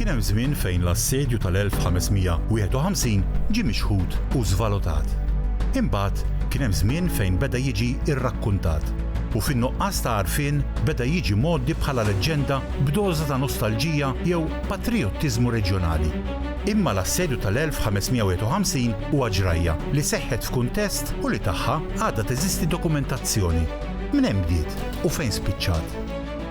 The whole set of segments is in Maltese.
Kien hemm żmien fejn l-Assedju tal-1551 ġie mixħut u żvalutat. Imbagħad kien hemm żmien fejn beda jiġi rrakkuntat, u fin-nuqqas ta' għarfien beda jiġi mgħoddi bħala leġġenda b'doża ta' nostalġija jew patrijottiżmu reġjonali. Imma l-Assedju tal-1551 huwa ġrajja li seħħet f'kuntest u li tagħha għadha teżisti dokumentazzjoni. Mnejn bdiet u fejn spiċċat?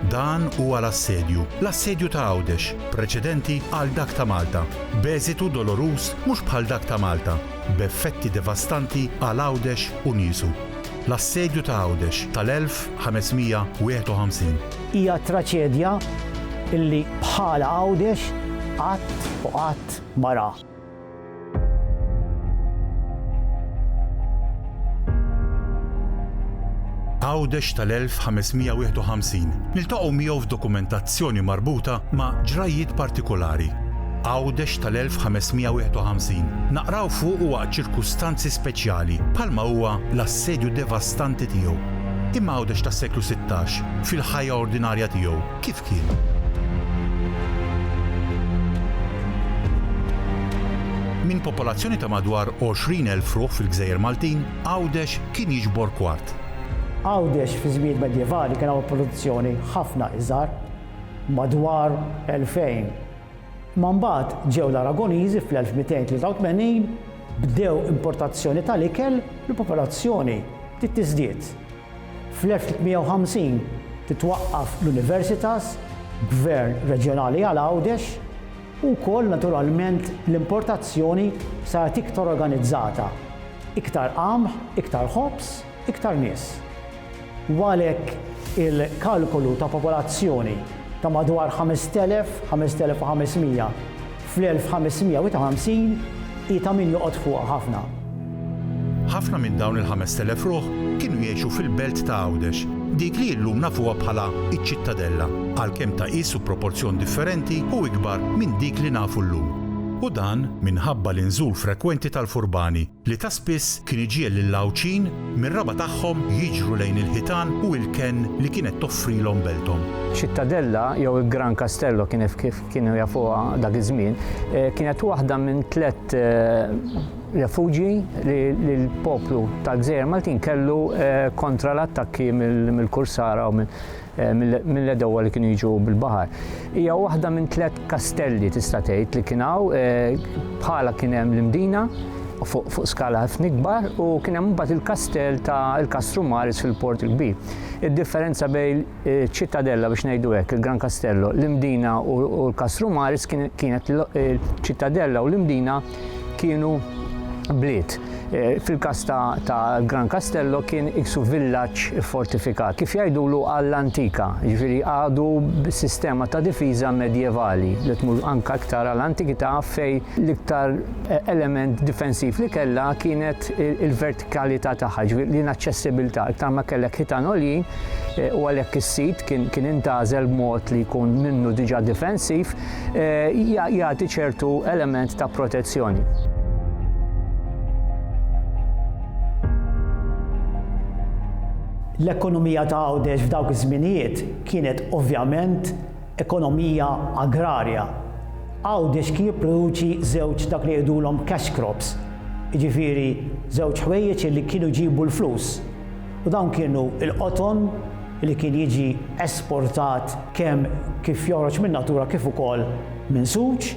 Dan huwa l-Assedju, l-Assedju ta' Għawdex, preċedenti għal dak ta' Malta, b'eżitu doloruż mhux bħal dak ta' Malta, b'effetti devastanti għal Għawdex u niesu. L-Assedju ta' Għawdex tal-1551. Hija traċedja li bħala Għawdex qatt u qatt ma ra. Għawdex tal-1551 niltaqgħu miegħu f'dokumentazzjoni marbuta ma' ġrajjiet partikulari. Għawdex tal-1551 naqraw fuqu waqt ċirkustanzi speċjali bħalma huwa l-assedju devastanti tiegħu. Imma Għawdex tas-seklu sittax, fil-ħajja ordinarja tiegħu, kif kien? Minn popolazzjoni ta' madwar 20,000 ruħ fil-gżejjer Maltin, Għawdex kien jiġbor kwart. Għawdex fiż-żmien medjevali kien hawn produzzjoni ħafna iżgħar, madwar 2,000. Imma mbagħad ġew l-Aragoniżi fl-1283, bdew importazzjoni tal-ikel, l-popolazzjoni bdiet tiżdied. Fl-1350 titwaqqaf l-Universitas, Gvern Reġjonali għal Għawdex, u wkoll naturalment l-importazzjoni saret iktar organizzata, iktar qamħ, iktar ħobż, iktar nies. U għalhekk il-kalkolu ta' popolazzjoni ta' madwar 5,000, 5,500 fl-1550 hi ta' min joqgħod fuqha ħafna. Ħafna minn dawn il-5,000 ruħ kienu jgħixu fil-belt ta' Għawdex, dik li illum nafuha bħala ċ-Ċittadella, għalkemm ta' qisu proporzjon differenti u ikbar minn dik li nafu llum. U dan minħabba l-inżul frekwenti tal-furbani li ta' spiss kien iġiegħel lill-Għawdxin mir-raba' tagħhom jiġru lejn il-ħitan u il-kenn li kienet toffrilhom belthom. Ċittadella, jew il-Gran Castello kif kienu jafuha dak iż-żmien, kienet waħda minn tliet refuġji li l-poplu tal-Gżejjer Maltin kellu kontra l-attakki mill-kursara u minn Eh, mill-edowa li kienu jiġu bil-bahar. Hija waħda minn tliet kastelli tista' tgħid li kien hawn eh, bħala kien hemm l-imdina fuq skala ħafna ikbar u kien hemm mbagħad il-kastell ta' il-Kastru Maris fil-Port il-Kbir. Id-differenza bejn eh, ċittadella biex ngħidu hekk il-Gran Kastello, l-Imdina u l-Kastru Maris kienet ċittadella u l-Imdina kienu bliet. Eh, fil-każ ta' Gran Castello kien iksu villaġġ fortifikat. Kif jgħidulu għall antika, ġifieri għadu sistema ta' difiża medjevali li tmur anka iktar għal antikità fej l-iktar eh, element difensiv li kellha kienet il-vertikalità tagħha, ġifieri l-inaċċessibilità. Iktar ma kellek ħitan għoljin eh, u għalhekk is-sit kien intagħżel b'mod li jkun minnu diġà difensiv jagħti ċertu element ta' protezzjoni. L-ekonomija ta' Għawdex f'dawk iż-żminijiet kienet ovvjament ekonomija agrarja. Għawdex kien jipproduċi żewġ dak li jgħidulhom cash crops, jiġifieri żewġ ħwejjeġ li kienu jġibu l-flus. u dawn kienu l-qoton li kien jiġi esportat kemm kif joħroġ min-natura kif ukoll minn suġ,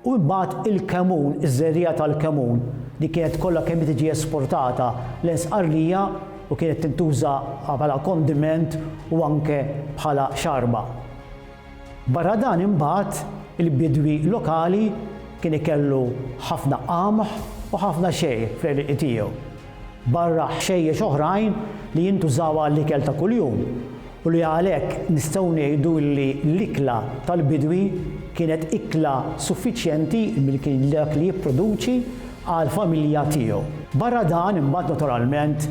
u imbagħad il-kemun, iż-żerriegħa tal-kemun li kienet kollha kemm hi tiġi esportata lejn Sqarlija u kienet tintuża bħala kondiment u anke bħala xarba. Barra dan imbagħad il-bidwi lokali kien ikellu ħafna qamħ u ħafna xejr fl-għelieqi tiegħu. barra ħxejjex oħrajn li jintużaw għall-ikel ta' kuljum u li għalhekk nistgħu ngħidu li l-ikla tal-bidwi kienet ikla suffiċjenti minn kien dak li jipproduċi għall-familja tiegħu. Barra dan imbagħad naturalment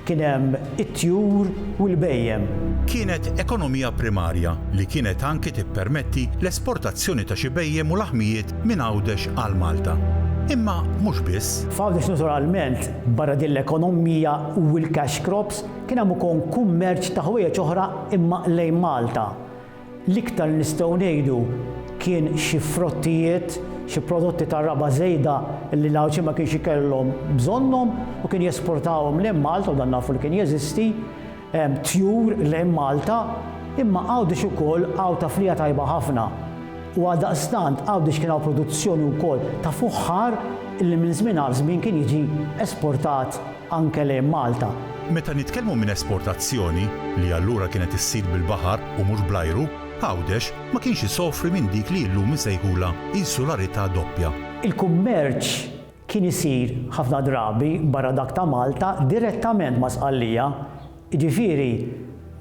kien hemm it-tjur u l-bhejjem. Kienet ekonomija primarja li kienet anki tippermetti l-esportazzjoni ta' xi bhejjem u laħmijiet minn Għawdex għal Malta. Imma mhux biss. F'Għawdex naturalment, barra din l-ekonomija u l-cash crops, kien hemm ukon kummerċ ta' ħwejjeġ oħra imma lejn Malta. L-iktar li nistgħu ngħidu kien xi frottijiet, xi prodotti tar-raba' żejda li l-Għawdxin ma kienx ikellhom bżonnhom u kien jesportahom lejn Malta u dan nafu li kien jeżisti, tjur lejn Malta, imma Għawdex ukoll Għawdha fliha tajba ħafna u għaldaqstant Għawdex kien hawn produzzjoni wkoll ta' fuħħar li minn żmien għal żmien kien jiġi esportat anke lejn Malta. Meta nitkellmu minn esportazzjoni, li allura kienet issir bil-baħar u mhux bl-ajru, Għawdex ma kienx isofri minn dik li illum isejħulha insularità doppja. Il-kummerċ kien isir ħafna drabi barra dak ta' Malta direttament ma' Sqallija, jiġifieri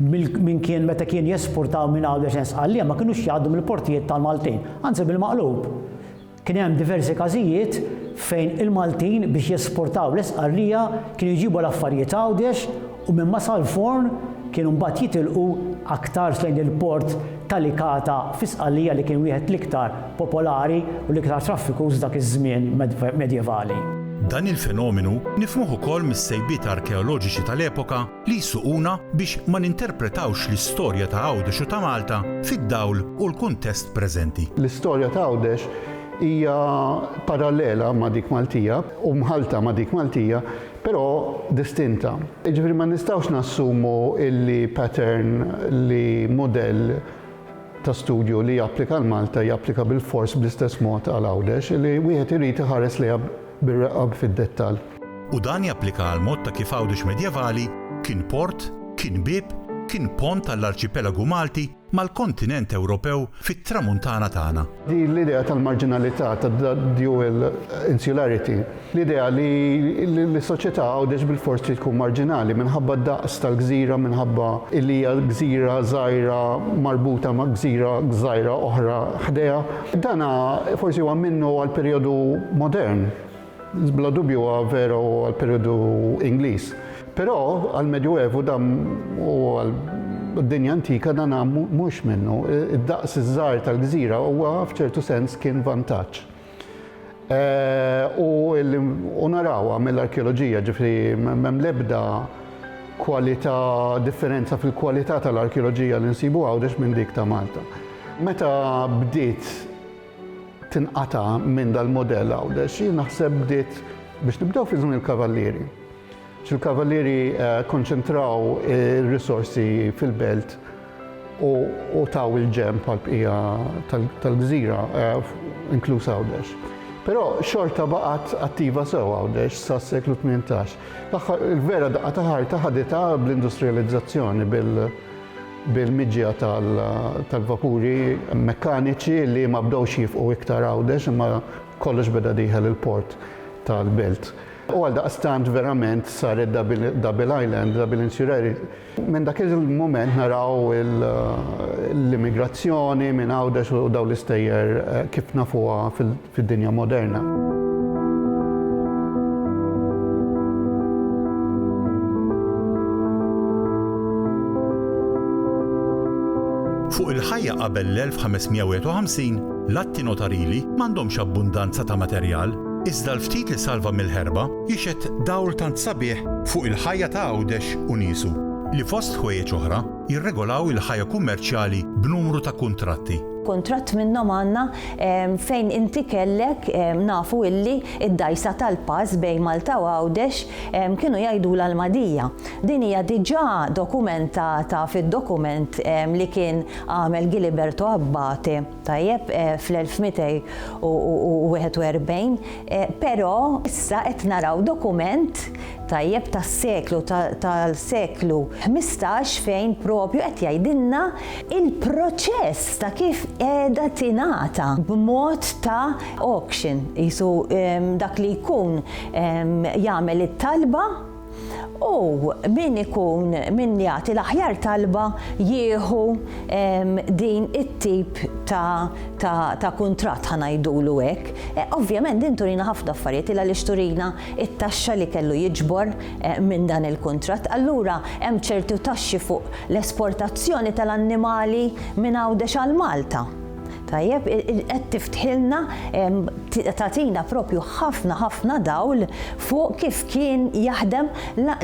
min kien meta kien jesportaw minn Għawdex lejn Sqallija ma kinux jgħaddu mill-portijiet tal-Maltin, anzi bil-maqlub. Kien hemm diversi każijiet fejn il-Maltin biex jesportaw l-Esqarrija kienu jġibu l-affarijiet Għawdex u minn Masal Forn kienu mbagħad jitilqu aktarx lejn il-port ta' Licata fi Sqallija li kien wieħed l-iktar popolari u l-iktar traffikuż dak iż-żmien medjevali. Dan il-fenomenu nifhmuh ukoll mis-sejbiet arkeoloġiċi tal-epoka li jsuquna biex ma ninterpretawx l-istorja ta' Għawdex u ta' Malta fid-dawl u l-kuntest preżenti. L-istorja ta' Għawdex hija parallela ma' dik Maltija u mħallta ma' dik Maltija, però distinta. Jiġifieri ma nistgħux nassumu li pattern li mudell ta' studju li japplika għal Malta japplika bilfors bl-istess mod għal Għawdex, li wieħed irid iħares lejha bir-reqqa fid-dettall. u dan japplika għall-mod ta' kif Għawdex medjevali kien port, kien bieb, kien pont għall-arċipelagu Malti mal-kontinent Ewropew fit-Tramuntana tagħna. Din l-idea tal-marġinalità, tad-dual insularity, l-idea li s-soċjetà Għawdex bilfors trid tkun marġinali minħabba d-daqs tal-gżira, minħabba li hija gżira żgħira marbuta ma' gżira żgħira oħra ħdejha, dan forsi huwa minnu għall-perjodu modern. Bla dubju huwa veru għall-perjodu Ingliż. Però għall-Medjuevu dan u għad-dinja antika dan mhux minnu. Id-daqs iż-żgħar tal-gżira huwa f'ċertu sens kien vantaġġ. U narawha mill-arkeoloġija, ġifieri m'hemm l-ebda kwalità, differenza fil-kwalità tal-arkeoloġija li nsibu Għawdex minn dik ta' Malta. Meta bdiet tinqata' minn dal-mudell Għawdex, jien naħseb bdiet biex nibdew fi żmien il-Kavallieri. Il-Kavallieri kkonċentraw ir-risorsi fil-belt u taw il-ġenb għall-bqija tal-gżira, inkluż Għawdex. Però xorta baqgħet attiva sew Għawdex sas-seklu tmintax. L-aħħar il-vera daqqa ta' ħarta ħaditha bl-industrijalizzazzjoni, bil, bil-miġja tal-vapuri mekkaniċi li ma bdewx jifqu iktar Għawdex imma kollox beda dieħel il-port tal-Belt. U għaldaqstant verament saret double island, double insulary. Minn dak il-mument naraw l-immigrazzjoni minn Għawdex u dawn l-istejjer kif nafuha fid-dinja moderna. Fuq il-ħajja qabel l-1551, l-atti notarili m'għandhomx abbundanza ta' materjal, iżda l-ftit li salva mill-ħerba jixhed dawl tant sabiħ fuq il-ħajja ta' Għawdex u niesu, li fost ħwejjeġ oħra, jirregolaw il-ħajja kummerċjali b'numru ta' kuntratti. Kuntratt minnhom għandna fejn inti kellek nafu illi d-dgħajsa tal-pass bejn Malta u Għawdex kienu jgħidulha l-Magħdija. Din hija diġà dokumentata fid-dokument li kien għamel Giliberto Abbate. Tajjeb, fl-1241, però issa qed naraw dokument, tajjeb, tas-seklu, tal-seklu ħmistax fejn propju qed jgħidilna l-proċess ta' kif qiegħda tingħata b'mod ta' auction, qisu dak li jkun jagħmel it-talba, U min ikun min jagħti l-aħjar talba jieħu din it-tip ta' kuntratt ħa ngħidulu hekk. Ovvjament din turina ħafna affarijiet il għaliex turina t-taxxa li kellu jiġbor minn dan il-kuntratt. Allura hemm ċertu taxxi fuq l-esportazzjoni tal-annimali minn Għawdex għal Malta. Tajjeb, qed tiftħilna, tagħtina propju ħafna ħafna dawl fuq kif kien jaħdem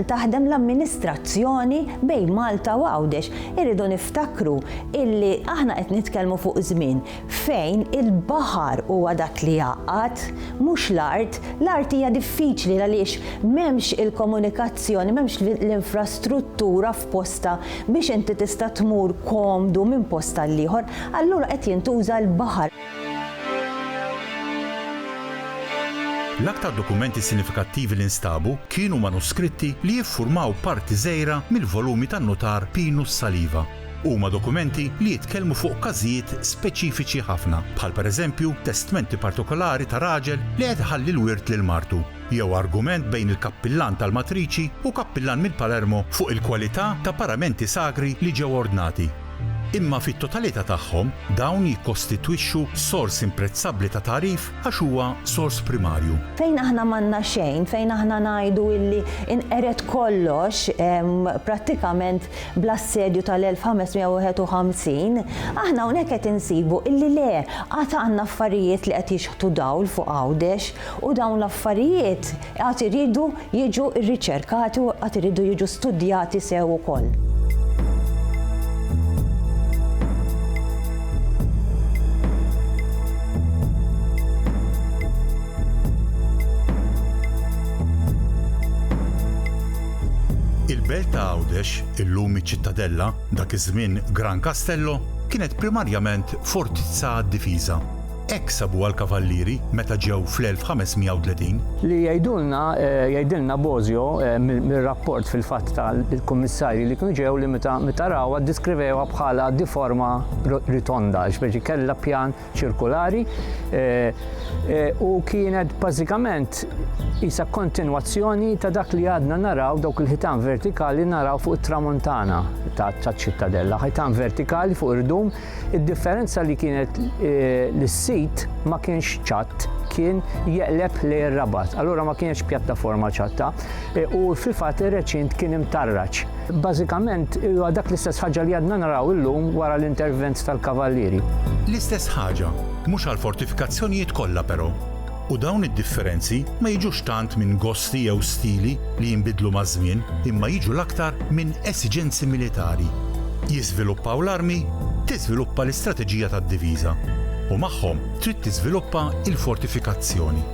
taħdem l-amministrazzjoni bejn Malta u Għawdex. Irridu niftakru illi aħna qed nitkellmu fuq żmien fejn il-baħar huwa dak li jgħaqqad, mhux l-art. L-art hija diffiċli għaliex m'hemmx il-komunikazzjoni, m'hemmx l-infrastruttura. posta biex inti tista' tmur komdu minn post għal ieħor, allura qed jintuża l-baħar. L-aktar dokumenti sinifikattivi li nstabu kienu manuskritti li jiffurmaw parti żgħira mill-volumi tan-nutar Pinus Saliva. Huma dokumenti li jitkellmu fuq każijiet speċifiċi ħafna, bħal pereżempju testmenti partikolari ta' raġel li qed iħalli l-wirt lil martu. jew argument bejn il-kappillan tal-matriċi u kappillan mill-Palermo fuq il-kwalità ta' paramenti sagri li ġew ordnati. Imma fit-totalità tagħhom, dawn jikkostitwixxu sors imprezzabbli ta' tagħrif għax huwa sors primarju. Fejn aħna m'għandna xejn, fejn aħna ngħidu illi inqered kollox prattikament bl-assedju tal-1551, aħna hawnhekk qed insibu illi le, għad għandna affarijiet li qed jixħtu dawl fuq Għawdex. U dawn l-affarijiet għad iridu jiġu rriċerkati u għad iridu jiġu studjati sew ukoll. Il-belt ta' Għawdex, illum iċ-Ċittadella, dak iż-żmien Gran Castello, kienet primarjament fortizza għad-difiża. Hekk sabuha l-Kavallieri meta ġew fl-1530. Li jgħidulna, jgħidilna Bosio mir-rapport fil-fatt tal-kummissarji li kienu ġew li meta rawha ddiskrivewha bħala di forma ritonda, jiġifieri kellha pjan ċirkulari u kienet bażikament qisha kontinwazzjoni ta' dak li għadna naraw dawk il-ħitan vertikali naraw fuq it-tramuntana taċ-Ċittadella, ħitan vertikali fuq irdum Id-differenza li kienet eh, li s-sit ma kienx ċatt kien jeqleb li rabat allura ma kienx pjattaforma ċatta e, u fil-fatt ir-reċint kien imtarraċ. Bażikament huwa dak l-istess ħaġa li għadna naraw illum wara l-intervent tal-Kavallieri. L-istess ħaġa, mhux għall-fortifikazzjonijiet kollha però. U dawn id-differenzi ma jiġux tant minn gosti jew stili li jinbidlu maż-żmien imma jiġu l-aktar minn esiġenzi militari. Jiżviluppaw l-armi, tiżviluppa l-istrateġija tad-diviża. U magħhom trid tiżviluppa l-fortifikazzjoni.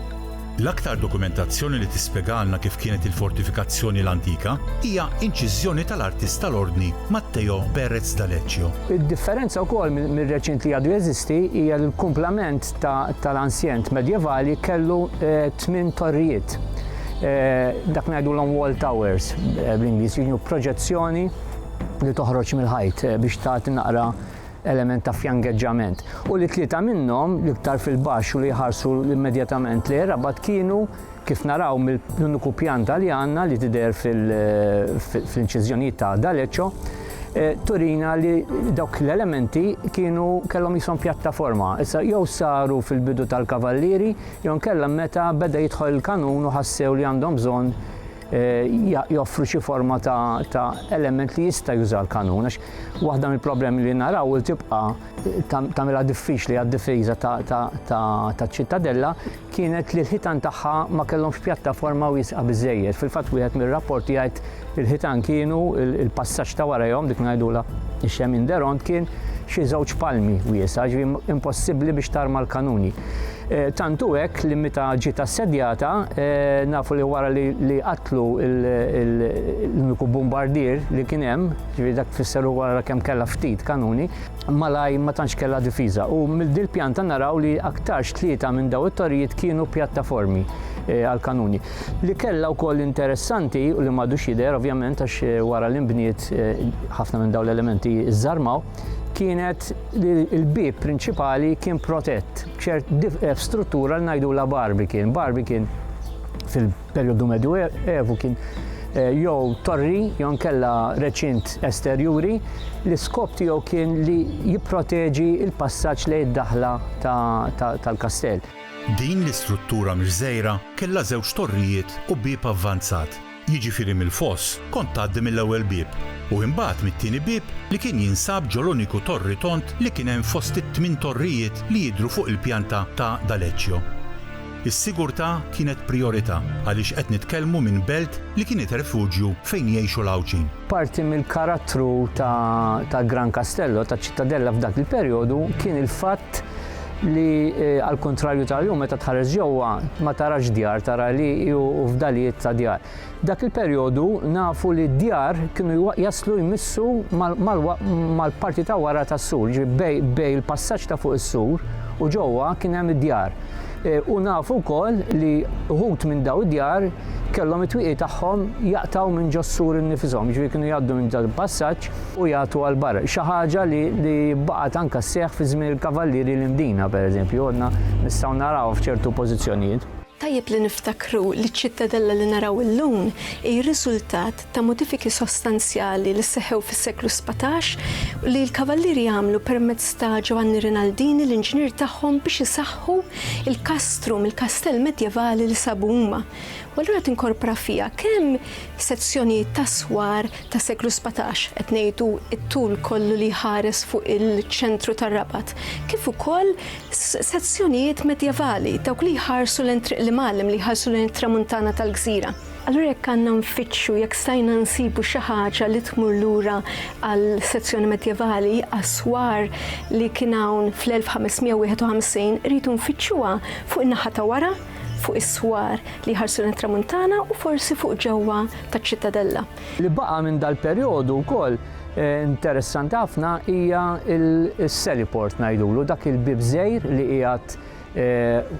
L-aktar dokumentazzjoni li tispjegalna kif kienet il-fortifikazzjoni l-antika hija inċiżjoni tal-artist tal-Ordni Matteo Pérez D'Aleccio. Id-differenza wkoll mir-reċint li għadu jeżisti hija l-kumplament tal-ansjent Medjevali kellu tmien torrijiet. Dak ngħidulhom wall towers bl-Ingliż, kienu proġezzjoni li toħroġ mill-ħajt biex tagħti naqra element ta' fjangeġġament. U li tlieta minnhom, l-iktar fil-baxx u li jħarsu immedjatament lejn rabat kienu Kif naraw mill-uniku pjanta li għandna li tidher fl-inċiżjonijiet ta' D'Aleccio, eh, turina li dawk l-elementi kienu kellhom jisom pjattaforma. Issa jew saru fil-bidu tal-kavallieri jew nkella meta beda jidħol il-kanun u ħassew li għandhom bżonn eh, joffru xi forma ta' element li jista' juża l-kanun. Għax waħda mill-problemi li naraw li tibqa' tagħmilha diffiċli għad-difiża ta' ċittadella kienet li l-ħitan tagħha ma kellhomx pjattaforma wiesqa biżżejjed. Fil-fatt wieħed mir-rapporti jgħid il-ħitan kienu il-passaġġ ta' warajhom dik ngħidulha ix-xemin deront kien xi żewġ palmi wiesgħa, ġifieri impossibbli biex tarma l-kanuni. E, tant hu hekk li meta ġiet assedjata e, nafu li wara li qatlu l-uniku bombardier li kien hemm, ġifieri dak tfisser wara kemm kellha ftit kanuni, malajr ma tantx kellha difiża u mill din pjanta naraw li aktarx tlieta minn daw it-torijiet kienu pjattaformi eh, għal kanuni. Li kellha wkoll interessanti u li m'għadux jidher ovvjament għax eh, wara li nbniet eh, ħafna minn dawn l-elementi żarmaw kienet li l-bib prinċipali kien protett b'ċert struttura li ngħidu la barbi kien, barbi kien fil Perjodu medjuevu kien eh, jew torri jew nkella reċint esterjuri li skop tiegħu kien li jipproteġi l-passaġġ lejn id-daħla tal-kastell. Din l-istruttura mġżejra kellha żewġ torrijiet u bieb avvanzat. Jiġifieri mill-foss kont tgħaddi mill-ewwel bieb u imbagħad mit-tieni bieb li kien jinsab ġol-uniku torri tond li kien hemm fost it-tmien torrijiet li jidhru fuq il-pjanta ta' D'Aleccio. Is-sigurtà kienet prijorità għaliex qed nitkellmu minn belt li kienet refuġju fejn jgħixu l-Għawdxin. Parti mill-karattru ta' Gran Castello, taċ-Ċittadella f'dak il-perjodu, kien il-fatt li għall-kuntrarju tal-lum meta tħares ġewwa ma tarax djar, tara għelieqi u fdalijiet ta' djar. Dak il-perjodu nafu li d-djar kienu jaslu jmissu mal-parti ta' wara tas-sur, jiġifieri bejn il-passaġġ ta' fuq is-sur u ġewwa kien hemm id-djar. U nafu wkoll li wħud minn dawn id-djar kellhom it-twieqi tagħhom jaqtgħu minn ġos-sur innifishom, jiġifieri kienu jgħaddu minn dan il-passaġġ u jagħtu għal barra. Xi ħaġa li baqgħet anke sseħħ fi żmien il-Kavallieri l-Imdina, pereżempju, għadna nistgħu narawha f'ċertu pożizzjonijiet. Tajjeb li niftakru li ċ-Ċittadella li naraw illum hi r-riżultat ta' modifiki sostanzjali li seħħew fis-seklu sbatax u li l-Kavallieri għamlu permezz ta' Ġovanni Rinaldini l-inġinier tagħhom biex isaħħu l-kastrum, il-kastell medjevali li sabu huma. U allura tinkorpora fiha kemm sezzjonijiet t'aswar tas-seklu sbatax, qed ngħidu t-tul kollu li jħares fuq il-ċentru tar-Rabat, kif ukoll Sezzjonijiet medjevali, dawk li jħarsu lejn Triq l-Imgħallem, li jħarsu lejn it-Tramuntana tal-gżira. Allura jekk għandna nfittxu, jekk stajna nsibu xi ħaġa li tmur lura għal sezzjoni medjevali, aswar li kien hawn fl-1551, irridu nfittxuha fuq in-naħa ta' wara, fuq is-swar li jħarsu lejn it-Tramuntana u forsi fuq ġewwa taċ-Ċittadella. Li baqa' minn dal-perjodu wkoll interessanti ħafna hija s-Seliport ngħidulu, dak il-bieb żgħir li qiegħed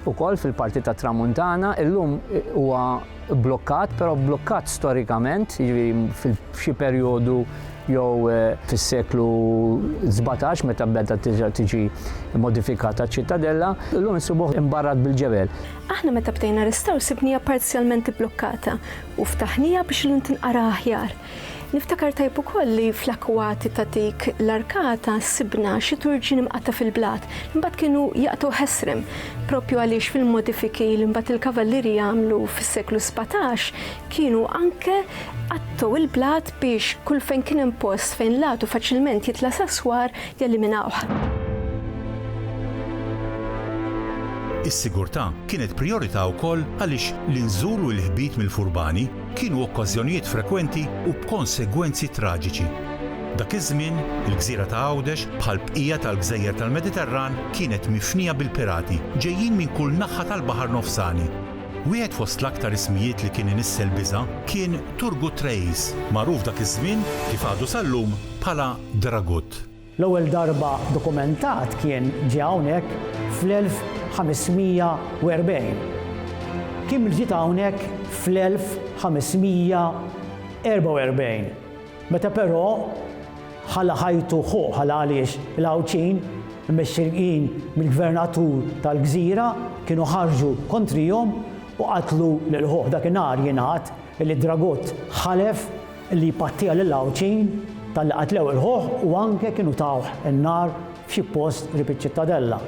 ukoll fil-parti tat-Tramuntana. Illum huwa blokkat, però blokkat storikament, jiġifieri f'xi perjodu jew fis-seklu sbatax meta beda terġa' tiġi modifikata ċ-Ċittadella. Illum insibuh imbarrat bil-ġebel. Aħna meta bdejna restawr sibniha parzjalment ibblokkata. u ftaħniha biex illum tinqara aħjar. Niftakar tajjeb ukoll li fl-akkwati ta' dik l-arkata sibna xi turġien imqatta' fil-blat, li mbagħad kienu jaqtgħu ħesrem, proprju għaliex fil-modifiki li mbagħad il-Kavalliri għamlu fis-seklu sbatax kienu anke qattgħu l-blat biex kull fejn kien hemm post fejn l-għadu faċilment jitla' sas-swar jeliminawh. Is-sigurtà kienet prijorità wkoll għaliex l-inżul u l-ħbit mill-furbani kienu okkażjonijiet frekwenti u b'konsegwenzi traġiċi. Dak iż-żmien, il-gżira ta' Għawdex, bħal bqija tal-gżejjer tal-Mediterran, kienet mifnija bil-pirati, ġejjin minn kull naħħa tal-Baħar Nofsani. Wieħed fost l-aktar ismijiet li kien inissel biża' kien Turgut Reis, magħruf dak iż-żmien, kif għadu sal-lum, bħala dragut. L-ewwel darba dokumentat kien ġie hawnhekk fl-1540. Kiml ġiet hawnhekk fl-1544, meta però ħalla ħajtu ħu ħalha għaliex il-Għawdxin, imexxijin mill-gvernatur tal-gżira, kienu ħarġu kontrihom u qatlu lil ħuh. Dakinhar jingħad li d-dragut ħalef li jpattija lil Għawdxin talli qatlew il-ħuħ u anke kienu tawh in-nar f'xi post qrib iċ-Ċittadella.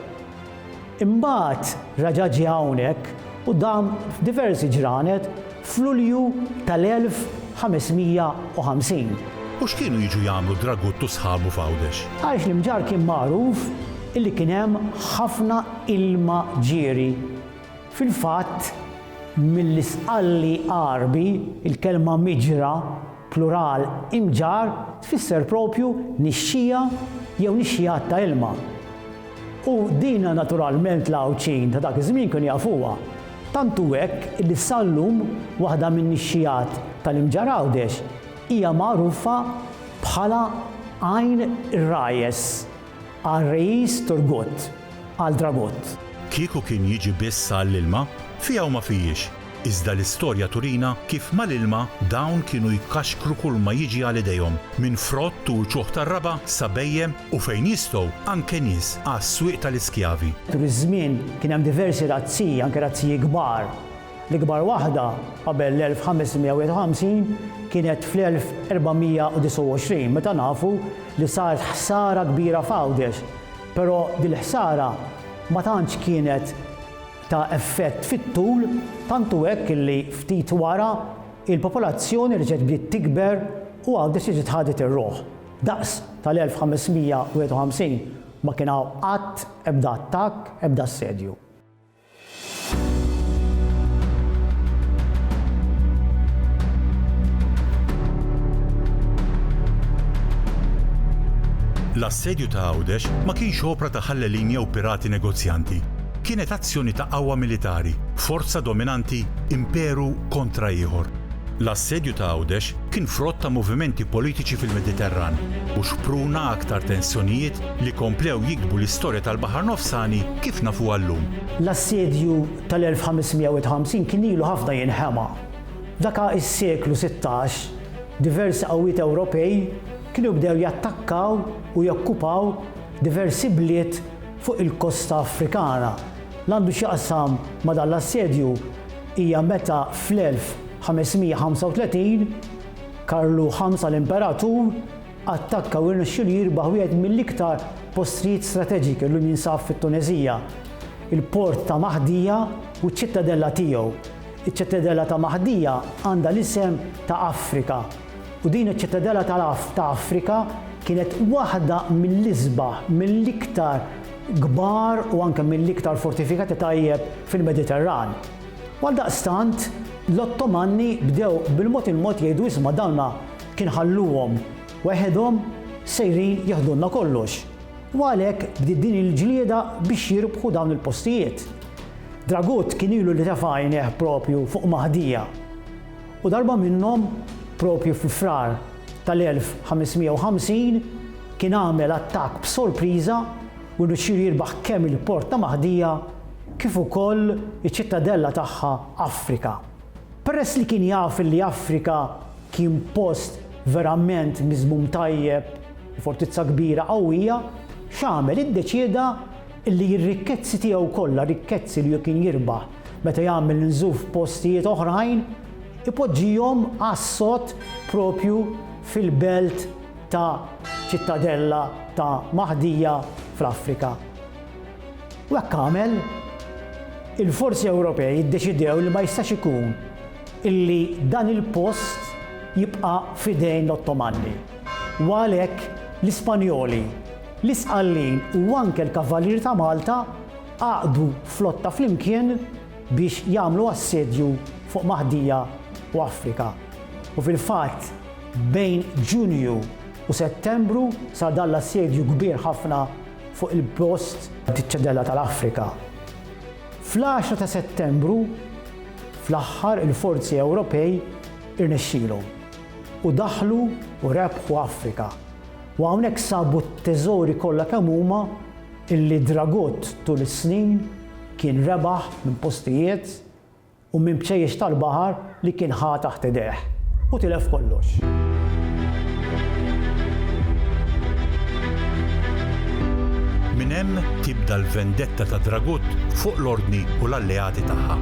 Imbagħad reġa' ġie hawnhekk u dam f'diversi ġranet f'Lulju tal-1550. U x'kienu jiġu jagħmlu Dragut u sħabu f'Għawdex? Għaliex l-Imġarr kien magħruf illi kien hemm ħafna ilma ġieri Fil-fatt, mill-Isqalli Għarbi, il-kelma miġra, plural, imġarr tfisser proprju nixxiegħa jew nixxiegħat ta' ilma. U dina naturalment l-Għawdxin ta' dak iż-żmien kienu jafuha. Tant hu hekk li sal-lum waħda min-nixxiegħat tal-Imġarr Għawdex hija magħrufa bħala Għajn ir-Rajes. Qal Reis Turgut, qal Dragut. Kieku kien jiġi biss għall-ilma, fiha u ma fijiex, iżda l-istorja turina kif mal-ilma dawn kienu jkaxkru kulma jiġi għal idejhom, minn frott u uċuħ tar-raba' sa bhejjem u fejn jistgħu anke nies għas-swieq tal-iskjavi. Tul iż-żmien kien hemm diversi razziji, anke razziji kbar, L-ikbar waħda, qabel l-1551, kienet fl-1429, meta nafu li saret ħsara kbira f'Għawdex, però dil-ħsara ma tantx kienet ta' effett fit-tul, tant hu hekk li ftit wara il-popolazzjoni reġgħet bdiet tikber u Għawdex reġgħet ħadet ir-ruħ. Daqs tal-1551 ma kien hawn qatt ebda attakk, ebda assedju. L-assedju ta' Għawdex ma kienx opra ta' ħallelin jew pirati negozjanti. Kienet azzjoni ta' qawwa militari, forza dominanti, imperu kontra ieħor. L-assedju ta' Għawdex kien frott ta' movimenti politiċi fil-Mediterran u xpruna aktar tensjonijiet li komplew jiktbu l-istorja tal-Baħar Nofsani kif nafuha llum. L-assedju tal-1551 kien ilu ħafna jinħema. F'daka s-seklu sittax, diversi qawwiet Ewropej kienu bdew jattakkaw u jokkupaw diversi bliet fuq il-kosta Afrikana. L-għandu x'jaqsam ma' dan l-assedju hija meta fl-1535, Karlu Ħamsa l-Imperatur, Attakka u rnexxielu jirbaħ wieħed mill-iktar postrijiet strateġiki llum jinsab fit-Tuneżija, il-port ta' Mahdija u ċ-ċittadella tiegħu. Iċ-ċittadella ta' Mahdija għandha l-isem ta' Afrika, u din iċ-ċittadella ta' Afrika kienet waħda mill-isbaħ, mill-iktar kbar u anke mill-iktar fortifikati tajjeb fil-Mediterran. Għaldaqstant, l-Ottomanni bdew bil-mod il-mod jgħidu isma' dawna Kien ħalluhom weħedhom sejrin jiħdulna kollox u għalhekk bdiet din il-ġlieda biex jirbħu dawn il-postijiet. Dragut kien ilu li tefa' għajnejh proprju fuq Maħdija u darba minnhom proprju fi Frar tal-1550 kien għamel attakk b'sorpriża u rnexxielu jirbaħ kemm il-port ta' Maħdija kif ukoll iċ-ċittadella tagħha Afrika. Peress li kien jaf li Afrika Kien post verament miżmum tajjeb, fortizza kbira, qawwija. X'għamel? Iddeċieda li r-rikkezzi tiegħu kollha, rikkezzi li hu kien jirbaħ meta jagħmel nżuf f'postijiet oħrajn, ipoġġihom għas-sod proprju fil-belt ta' Ċittadella ta' Mahdija fl-Afrika. U hekk għamel. Il-forzi Ewropej iddeċidew li ma jistax ikun illi dan il-post jibqa' f'idejn l-Ottomanni u għalhekk l-Ispanjoli, l-Isqallin u anke l-Kavalieri ta' Malta għaqdu flotta flimkien biex jagħmlu assedju fuq Maħdija u Afrika. U fil-fatt bejn Ġunju u Settembru sar dan l-assedju kbir ħafna fuq il-post. Ċittadella tal-Afrika. Fl-10 ta' Settembru, fl-aħħar il-forzi Ewropej irnexxielhom u daħlu u rebħu Afrika u hawnhekk sabu t-teżori kollha kemm huma illi Dragut tul is-snin kien rebaħ minn postijiet u minn bċejjex tal-baħar li kien ħa taħt idejh, u tilef kollox. Minn hemm tibda l-vendetta ta' Dragut fuq l-Ordni u l-alleati tagħha.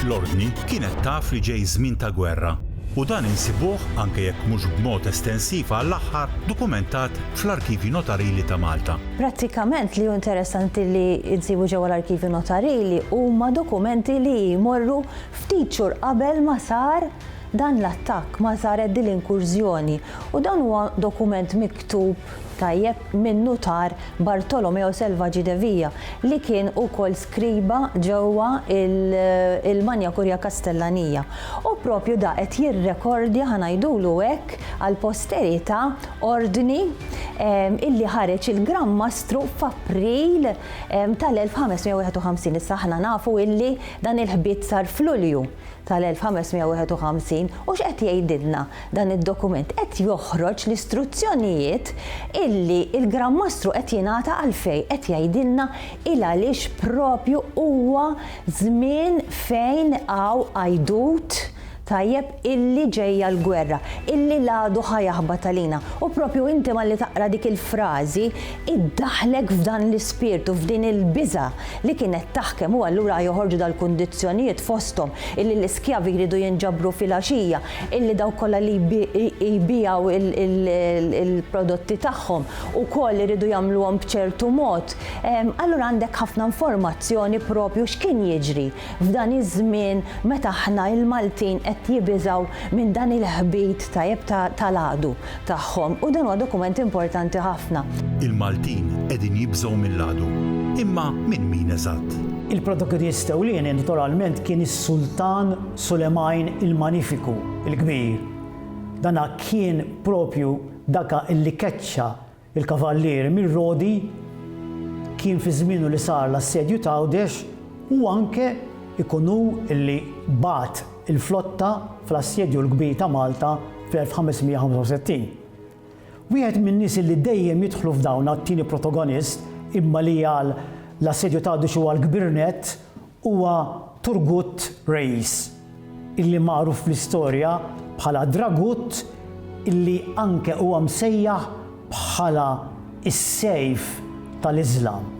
L-Ordni kienet taf li ġej żmien ta' gwerra. u dan insibuh, anke jekk mhux b'mod estensiv għall-aħħar, dokumentat fl-Arkivji Notarili ta' Malta. Prattikament li hu interessanti li nsibu ġewwa l-Arkivju Notarili huma dokumenti li jmorru ftit xhur qabel ma sar dan l-attakk, ma saret din l-inkurżjoni u dan huwa dokument miktub tajjeb, min-Nutar Bartolomeo Selvaggi de Via, li kien ukoll skriba ġewwa l-Magna Curia Kastellanija. U proprju da qed jirrekordja, ħa ngħidulu hekk, għall-posterità ordni li ħareġ il-Gran Mastru f'April tal-1551. Issa aħna nafu li dan il-ħbit sar f'Lulju. tal-1551 u x'qed jgħidilna dan id-dokument? Qed joħroġ l-istruzzjonijiet illi l-Gran Mastru qed jingħata għalfejn qed jgħidilna il għaliex propju huwa żmien fejn hawn għajdut tajjeb illi ġejja l-gwerra, illi l-għadu ħa jaħbat għalina. U propju inti malli taqra dik il-frażi iddaħħlek f'dan l-ispirtu, f'din il-biża' li kienet taħkem u allura joħorġu dal-kundizzjonijiet fosthom illi l-iskjavi jridu jinġabru filgħaxija, illi dawk kollha li jbigħu l-prodotti tagħhom ukoll iridu jagħmluhom b'ċertu mod. Allura għandek ħafna informazzjoni proprju x'kien jiġri f'dan iż-żmien meta aħna l-Maltin qed jibiżgħu minn dan il-ħbit tajjeb tal-għadu. tagħhom u dan huwa dokument importanti ħafna. Il-Maltin qegħdin jibżgħu mill-għadu, imma minn min eżatt? Il-Protokedist ewlieni naturalment kien is-Sultan Sulemajn il-Manifiku, il-Kbir. Dan kien proprju daka li keċċa l-kavallieri mir-Rodi, kien fi żmienu li sar l-Assedju t'Għawdex u anke jkun hu li bagħat, il-flotta fl-Assedju l-Kbir ta' Malta fl-1565. Wieħed min-nies li dejjem jidħlu f'dawn għat-tieni protogonist imma li għal l-Assedju t'Għadux huwa l-kbir nett huwa Turgut Reis, illi magħruf fl-istorja bħala Dragut illi anke huwa msejjaħ bħala s-sejf tal-Iżlam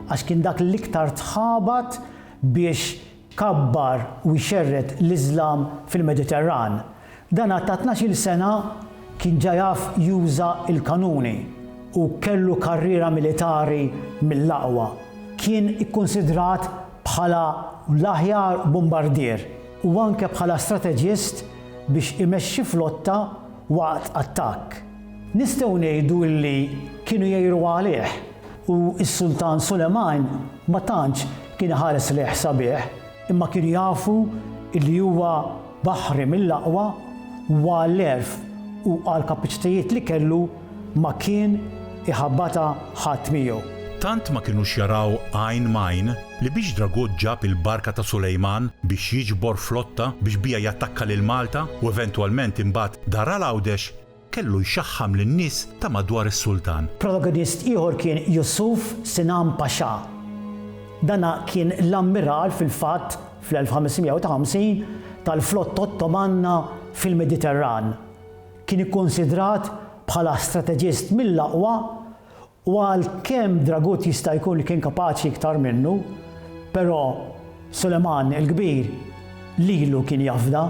għax kien dak l-iktar tħabat biex kabbar u jxerred l-Iżlam fil-Mediterran. Dan għad ta' tnax-il sena kien ġa jaf juża l-kanuni u kellu karriera militari mill-aqwa. Kien ikkunsidrat bħala l-aħjar bumbardier u anke bħala strateġist biex imexxi flotta waqt attakk. Nistgħu ngħidu li kienu jgħiru għalih. U s-Sultan Sulejman ma tantx kien iħares lejh sabiħ, imma kienu jafu li huwa baħri mill-aqwa u għall-għerf u għall-kapaċitajiet li kellu ma kien iħabbatha ħadd miegħu. Tant ma kinux jaraw għajn m'għajn li biex Dragut ġab il-barka ta' Sulejman biex jiġbor flotta biex biha jattakka lil Malta u eventwalment imbagħad dar għal Għawdex, Kellu jxaħħam lin-nies ta' madwar is-sultan. Protagonist ieħor kien Yusuf Sinan Pasha. Dana kien l-ammiral fil-fatt fl-1553 tal-flotta Ottomanna fil-Mediterran. Kien ikkunsidrat bħala strateġist mill-aqwa U għalkemm Dragut jista' jkun li kien kapaċi iktar minnu, però Suleman il-Kbir lilu kien jafda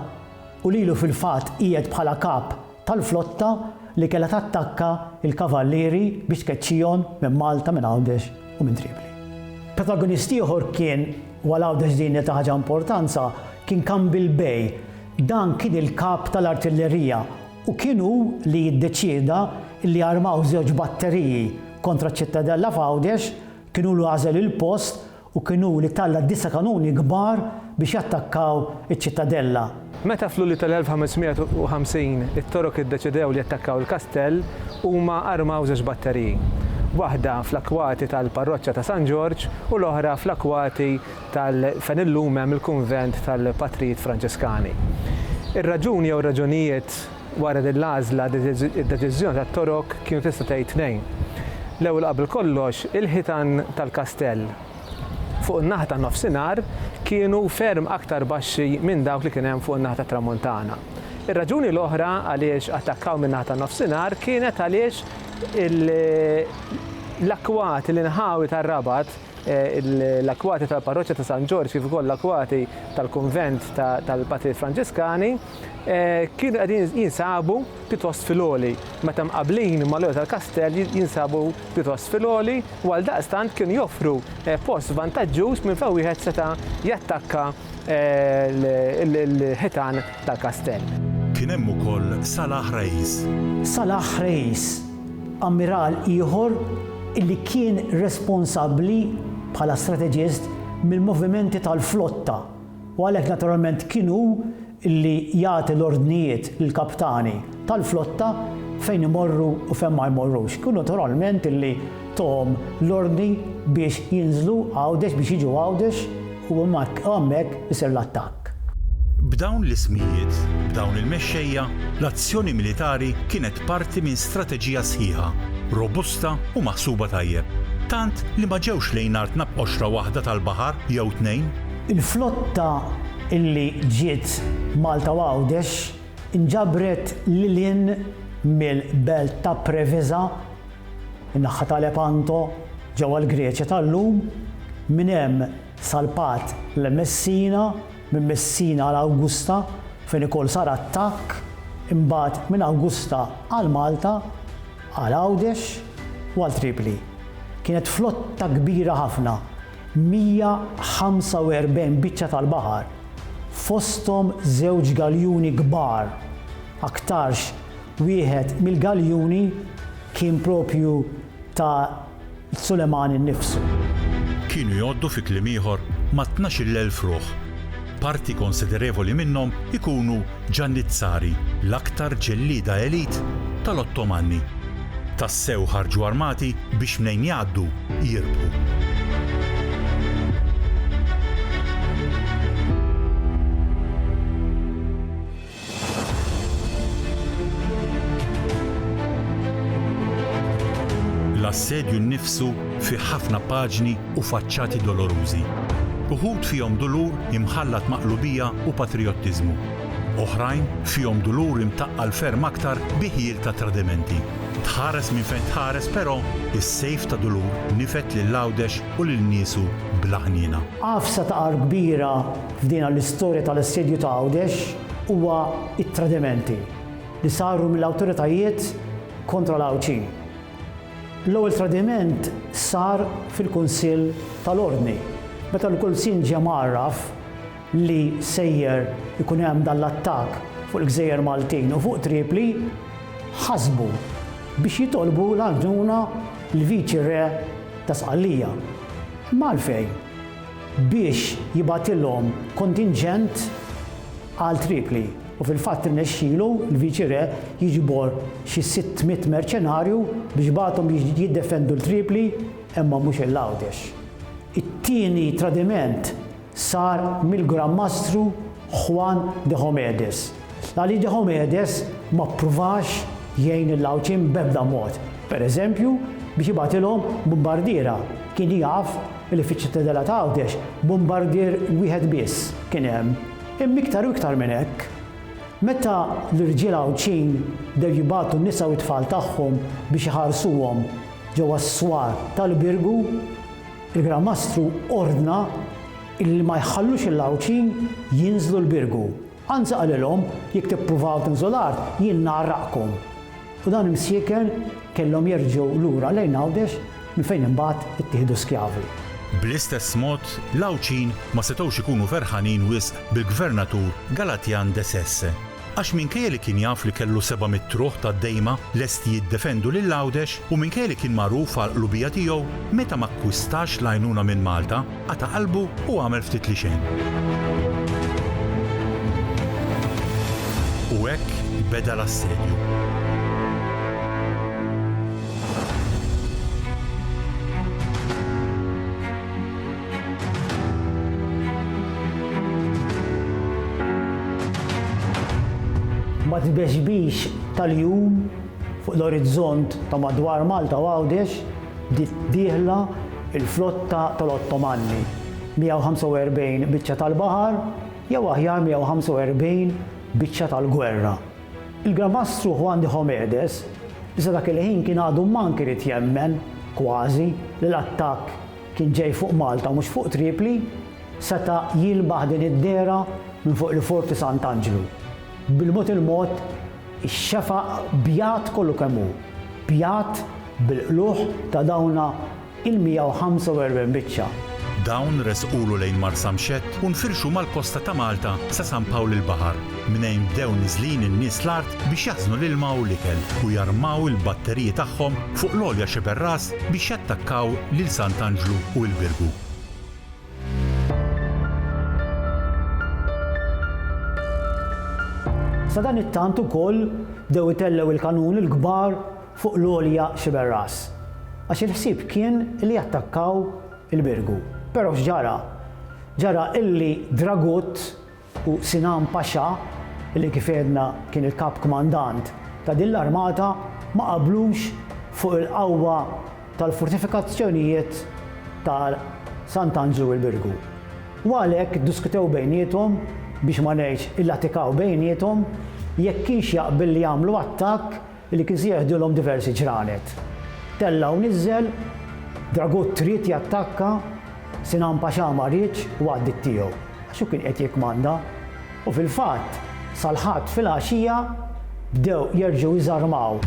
u lilu fil-fatt qiegħed bħala kap tal-flotta li kellha tattakka l-kavallieri biex tkeċċihom minn Malta, minn Għawdex u minn Tripli. Protagonist ieħor kien, u għal Għawdex din hija ta' ħaġa importanza, kien Kambil Bey. Dan kien il-kap tal-artillerija u kien hu li jiddeċieda li jarmaw żewġ batteriji kontra ċ-Ċittadella f'Għawdex, kien hu li għażel il-post u kien hu li talla' disa' kanuni kbar biex jattakkaw iċ-Ċittadella. Meta f'Lulju tal-1550 it-Torok iddeċidew li jattakkaw il-kastell, huma armaw żewġ batteriji, waħda fl-akwati tal-parroċċa ta' San Ġorġ u l-oħra fl-akwati tal fejn illum hemm il-kunvent tal-Patrijiet Franċiskani. Ir-raġuni jew ir-raġunijiet wara din l-għażla id-deċiżjoni tat-Torok kienu tista' tgħid tnejn. L-ewwel qabel kollox il-ħitan tal-kastell fuq in-naħa tan-nofsinhar kienu ferm aktar baxxi minn dawk li kien hemm fuq in-naħa tat-tramuntana. Ir-raġuni l-oħra għaliex attakkaw min-naħa tan-nofsinhar kienet għaliex l-akkwati, l-inħawi tar-Rabat, l-akwati tal-parroċċa ta' San Ġorġ kif ukoll l-akwati tal-kunvent tal-Patri Franġiskani kienu qegħdin jinsabu pjuttost fil-għoli meta mqabblin mal-għoli tal-kastell jinsabu pjuttost fil-għoli u għaldaqstant kienu joffru post vantaġġuż minn fejn wieħed seta' jattakka l-ħitan tal-kastell. Kien hemm ukoll Salah Reis. Salah Reis Ammiral ieħor li kien responsabbli bħala strateġist mill-movimenti tal-flotta u għalhekk naturalment kien hu li jagħti l-ordnijiet lill-kaptani tal-flotta fejn imorru u fejn ma jmorrux. Kien hu naturalment li tahom l-ordni biex jinżlu Għawdex, biex jiġu Għawdex, U mbagħad hemmhekk isir l-attakk. B'dawn l-ismijiet, b'dawn il-mexxejja, l-azzjoni militari kienet parti minn strateġija sħiħa, robusta u maħsuba tajjeb, tant li ma ġewx lejn artna b'qoxra waħda tal-baħar jew tnejn. Il-flotta li ġiet Malta u Għawdex inġabret lil hinn mill-belt ta' Preveza In-naħħa ta' Lepanto, ġewwa l-Greċja tal-lum, minn hemm salpat lejn Messina, minn Messina għal Awgusta fejn ukoll sar attakk, imbagħad minn Awgusta għal Malta, għal Għawdex u għal Tripli. Kienet flotta kbira ħafna, 145 biċċa tal-baħar, fosthom żewġ galjuni kbar, aktarx Wieħed mill-galjuni kien proprju ta' Suleman innifsu. Kienu jgħoddu fi kliem ieħor ma' tnax-il elf ruħ. Parti konsiderevoli minnhom ikunu Ġannizzari, l-aktar ġellieda elite tal-Ottomanni. Tassew ħarġu armati biex mnejn jgħaddu, jirbħu. L-assedju nnifsu fih ħafna paġni u faċċati dolorużi. Uħud fihom dulur imħallat ma' qlubija u patrijottiżmu. Oħrajn fihom dulur imtaqqal ferm aktar bi ħjiel ta' tradimenti. Tħares minn fejn tħares però, is-sejf ta' dulur nifed lil Għawdex u lil niesu bla ħniena. Għafsa ta' agħar kbira F'dina l-istorja tal-Assedju ta' Għawdex huwa t-tradimenti li saru mill-awtoritajiet kontra l-Għawdxin. L-ewwel tradiment sar fil-Kunsill tal-Ordni meta l-Kulsin ġie mgħarraf li sejjer ikun hemm dan l-attakk fuq il-gżejjer Maltin u fuq Tripli ħasbu biex jitolbu l-għajnuna l-Viċi Re ta' Sqallija. Imma għalfejn? biex jibgħatilhom kontinġent għal Tripli u fil-fatt irnexxielu l-Viċi Re jiġbor xi sitt mitt merċenarju biex bagħathom jiddefendu 'l Tripli imma mhux 'il Għawdex. It-tieni tradiment sar mill-Gran Mastru Juan Diomedes. L-Alide Homedes ma ppruvax jgħin lill-Għawdxin b'ebda mod. Pereżempju, biex jibgħatilhom bumbardiera, kien jaf li fiċ-Ċittadella ta' Għawdex bumbardier wieħed biss kien hemm. Imma iktar u iktar minn hekk. Meta l-irġiel Għawdxin bdew jibagħtu n-nisa u t-tfal tagħhom biex iħarsuhom ġewwa s-swar tal-Birgu, il-Gran Mastru ordna li ma jħallux lill-Għawdxin jinżlu l-Birgu. Anzi qalilhom, Jekk tippruvaw tinżlu l-art, jien ngħarraqkom. U dawn imsieken kellhom jerġgħu lura lejn Għawdex minn fejn imbagħad ittieħdu skjavi. Bl-istess mod, l-Għawdxin ma setgħux ikunu ferħanin wisq bil-Gvernatur Galatjan de Sesse. Għax minkejja li kien jaf li kellu seba' mitt ruħ tad-dejma lesti jiddefendu lil Għawdex u minkejja li kien magħruf għall-qlubija tiegħu, meta ma kkwistax l-għajnuna minn Malta, Qata' qalbu u għamel ftit li xejn. U hekk beda l-assedju. Mat-tbexbix tal-jum fuq l-orizzont ta' madwar Malta u Għawdex, Bdiet dieħla l-flotta tal-Ottomanni, 145 biċċa tal-baħar, jew aħjar 145 biċċa tal-gwerra. Il-Gran Mastru Juan de Homedes sa dak il-ħin kien għadu mank irid jemmen, kważi, li l-attakk kien ġej fuq Malta u mhux fuq Tripli, seta' jilmaħ din id-dehra minn fuq il-Forti Sant'Anġlu. Bil-mod il-mod, Ix-xefaq bjad kollu kemm hu, bjad bil-qlugħ ta' dawna il-145 biċċa. Dawn resqulu lejn Marsamxett u nfirxu mal-kosta ta' Malta sa San Pawl il-Baħar, mnejn bdew niżlin in-nies l-art biex jaħżnu l-ilma u l-ikel u jarmaw il-batteriji tagħhom fuq l-għolja xeber ras biex jattakkaw lil Sant'Anġlu u il-Birgu. Sadanittant ukoll bdew itellgħu il-kanun il-kbar fuq l-għolja Sciberras, għax il-ħsieb kien li jattakkaw il-Birgu. Però x'ġara? Ġara illi Dragut u Sinan Pasha, li kif għedna kien il-Kap Kmandant ta' din l-armata, ma qablux fuq il-qawwa tal-fortifikazzjonijiet ta' Sant'Anġlu u l-Birgu. U għalhekk iddiskutew bejniethom, biex ma ngħidx illatikaw bejniethom, jekk kienx jaqbel li jagħmlu attakk Li kien se jeħdilhom diversi ġranet. Tella' u niżżel, Dragut ried jattakka, Sinan Paxà ma riedx u għaddiet tiegħu, għax hu kien qiegħed jikkmanda. U fil-fatt, sal-Ħadd filgħaxija bdew jerġgħu jiżarmaw.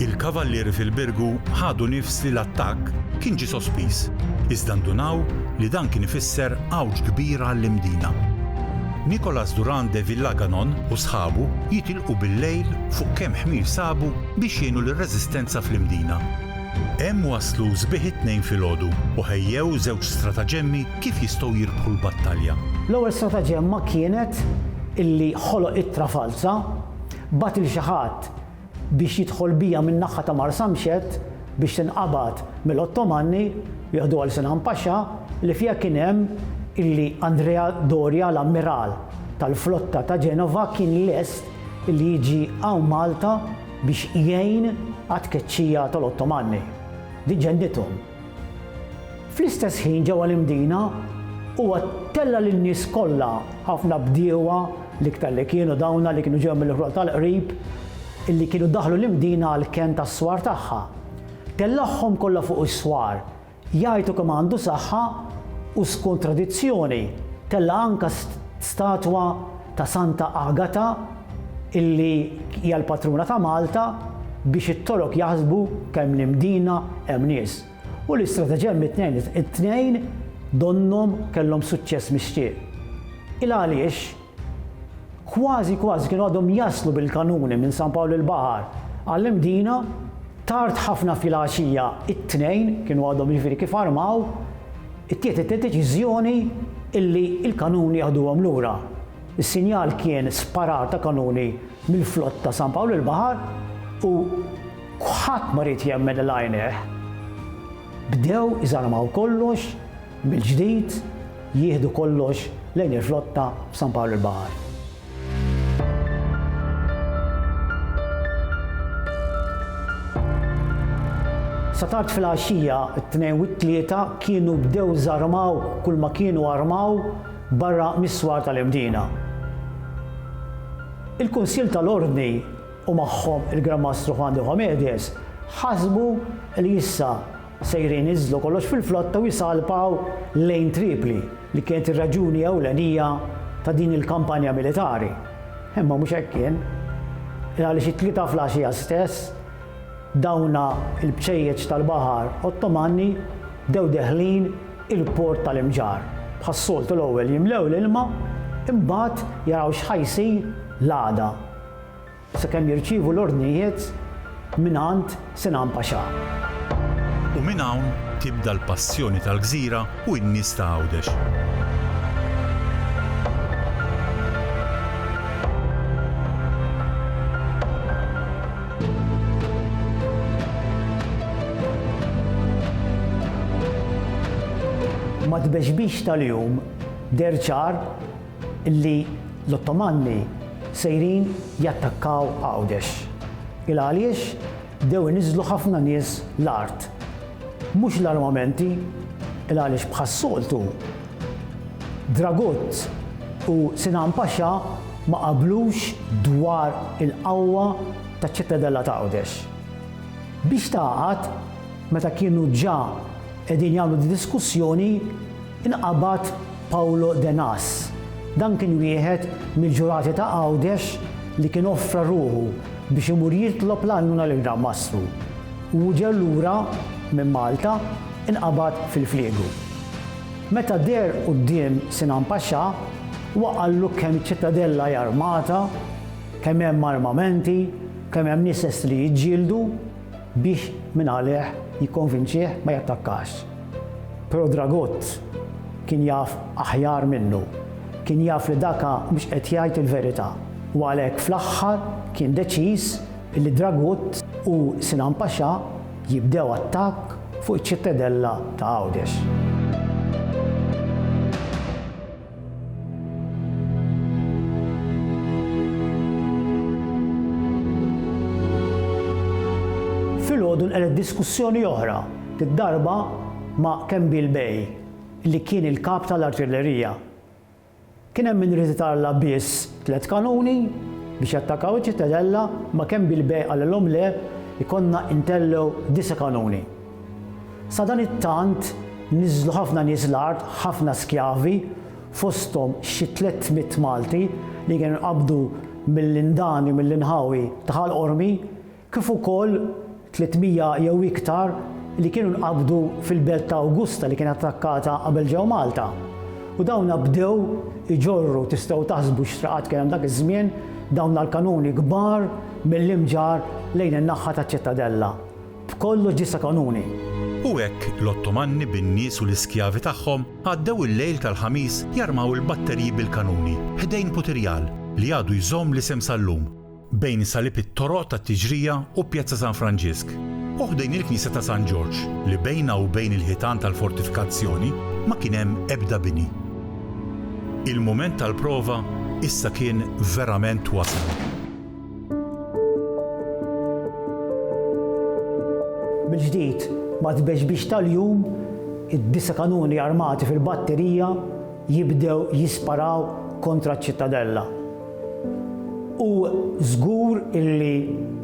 Il-kavallieri fil-Birgu ħadu nifs peress li l-attakk kien ġie sospiż, iżda ndunaw li dan kien ifisser għawġ kbira għall-Imdina. Nicolas Durand de Villaganon u sħabu jitilqu bil-lejl fuq kemm ħmir sabu biex jgħinu lir-reżistenza fl-Imdina. Hemm waslu sbieħ it-Tnejn filgħodu u ħejjew żewġ strataġemmi kif jistgħu jirbħu l-battalja. L-ewwel strataġemma kienet illi ħoloq ittra falza, bagħat lil xi ħadd biex jidħol biha min-naħa ta' Marsamxett biex tinqabad mill-Ottomanni, jieħduha għal Sinan Paxa, li fiha kien hemm illi Andrea Doria l-ammiral tal-flotta ta' Genova kien lest illi jiġi hawn Malta biex jgħin għat-tkeċċija tal-Ottomanni. Din ġennithom. Fl-istess ħin ġewwa l-Imdina, huwa tella' lin-nies kollha, ħafna bdiewa, l-iktar li kienu dawna li kienu ġew mill-Iħruq tal-Qrib, illi kienu daħlu l-Imdina għall-kenn tas-swar tagħha. Tellagħhom kollha fuq is-swar, jgħajtu kemm għandu saħħa u skont tradizzjoni, tella' anke statwa ta' Santa Agata illi hija l-patruna ta' Malta biex it-Torok jaħsbu kemm l-Imdina hemm nies u li strateġem it-tnejn it-tnejn donnhom kellhom suċċess mixtieq. Il għaliex kważi kważi kienu għadhom jaslu bil-kanuni minn San Pawl il-Baħar għall-Imdina tard ħafna filgħaxija it-tnejn kienu għadhom jiġifieri kif armaw Ittieħdet id-deċiżjoni illi l-kanuni jaħduhom lura. Is-sinjal kien sparar ta' kanuni mill-flott ta' San Pawl il-Baħar u ħadd ma ried jemmen lil għajnejh. Bdew iżarmaw kollox mill-ġdid, jieħdu kollox lejn il-flotta f'San Pawl il-Baħar. Sa tard filgħaxija, it-Tnejn u t-Tlieta kienu bdew żarmaw kull ma kienu armaw barra mis-swar tal-Imdina. Il-Kunsill tal-Ordni u magħhom il-Gran Mastru Juan de Homedes ħasbu li issa, Sejrin iniżżlu kollox fil-flotta u jsalpaw lejn Tripli li kienet ir-raġuni ewlenija ta' din il-kampanja militari. Imma mhux hekk kien. Il għaliex it-Tlieta flgħaxija stess, dawna l-bċejjeċ tal-baħar Ottomanni bdew deħlin il-port tal-Imġarr. Bħas-soltu l-ewwel jimlew l-ilma imbagħad jaraw x'ħa jsir l-għada. Sakemm jirċievu l-ordnijiet mingħand Sinan Paxà. U minn hawn tibda l-passjoni tal-gżira u n-nies ta' Għawdex. Mat-tbeġbix tal-jum deher ċar li l-Ottomanni sejrin jattakkaw Għawdex. Ilgħaliex bdew iniżżlu ħafna nies l-art. Mhux l-armamenti, ilgħaliex bħas-soltu Dragut u Sinan Paxa ma qablux dwar il-qawwa taċ-Ċittadella ta' Għawdex. Biex tagħqad, meta kienu ġa qegħdin jagħmlu d-diskussjoni, inqabad Paulo De Nas. Dan kien wieħed mill-ġurati ta' Għawdex li kien offra ruħu biex imur jitlob l-għajnuna lill-Gran Mastru. U hu ġew lura minn Malta inqabad fil-Fliegu. Meta deher quddiem Sinan Paxà, huwa qallu kemm iċ-Ċittadella hi armata, kemm hemm armamenti, kemm hemm nies lesti li jiġġieldu. biex minn għalih jikkonvinċih ma jattakkax. Però Dragut kien jaf aħjar minnu. Kien jaf li Daka mhux qed jgħid il-verità u għalhekk fl-aħħar kien deċiż li Dragut u Sinan Paxà jibdew attakk fuq iċ-ċittedella ta' Għawdex. Filgħodu nqelet diskussjoni oħra, darba ma' Kembil Bey, li kien il-Kap tal-Artillerija. Kien hemm min irid itarla' biss tliet kanuni biex jattakaw iċ-Ċittadella, imma Kembil Bey qalilhom le, ikollna ntellgħu disa' kanuni. Sadanittant, niżlu ħafna nies l-art, ħafna skjavi, fosthom xi tlett mitt Malti li kienu nqabdu mill-Indani u mill-inħawi ta' Ħal Qormi, kif ukoll tliet mija jew iktar li kienu nqabdu fil-belt ta' Awgusta li kienet attakkata qabel ġew Malta. U dawna bdew iġorru, tistgħu taħsbu x'traqat kien hemm dak iż-żmien, dawna l-kanuni kbar mill-Imġarr lejn in-naħħa taċ-Ċittadella. B'kollox ġie sa kanuni. U hekk l-Ottomanni bin-nies u l-iskjavi tagħhom għaddew il-lejl tal-Ħamis jarmaw il-batterji bil-kanuni ħdejn Putirjal li għadu jżomm l-isem sal-lum, bejn salib it-toroq tat-Tiġrija u Pjazza San Franġisk, u ħdejn il-Knisja ta' San Ġorġ li bejnha u bejn il-ħitan tal-fortifikazzjoni ma kien hemm ebda bini. Il-mument tal-prova issa kien verament wasal. Mill-ġdid, ma' tbexbix tal-jum, id-disa' kanuni armati fil-batterija jibdew jisparaw kontra ċ-Ċittadella. U żgur illi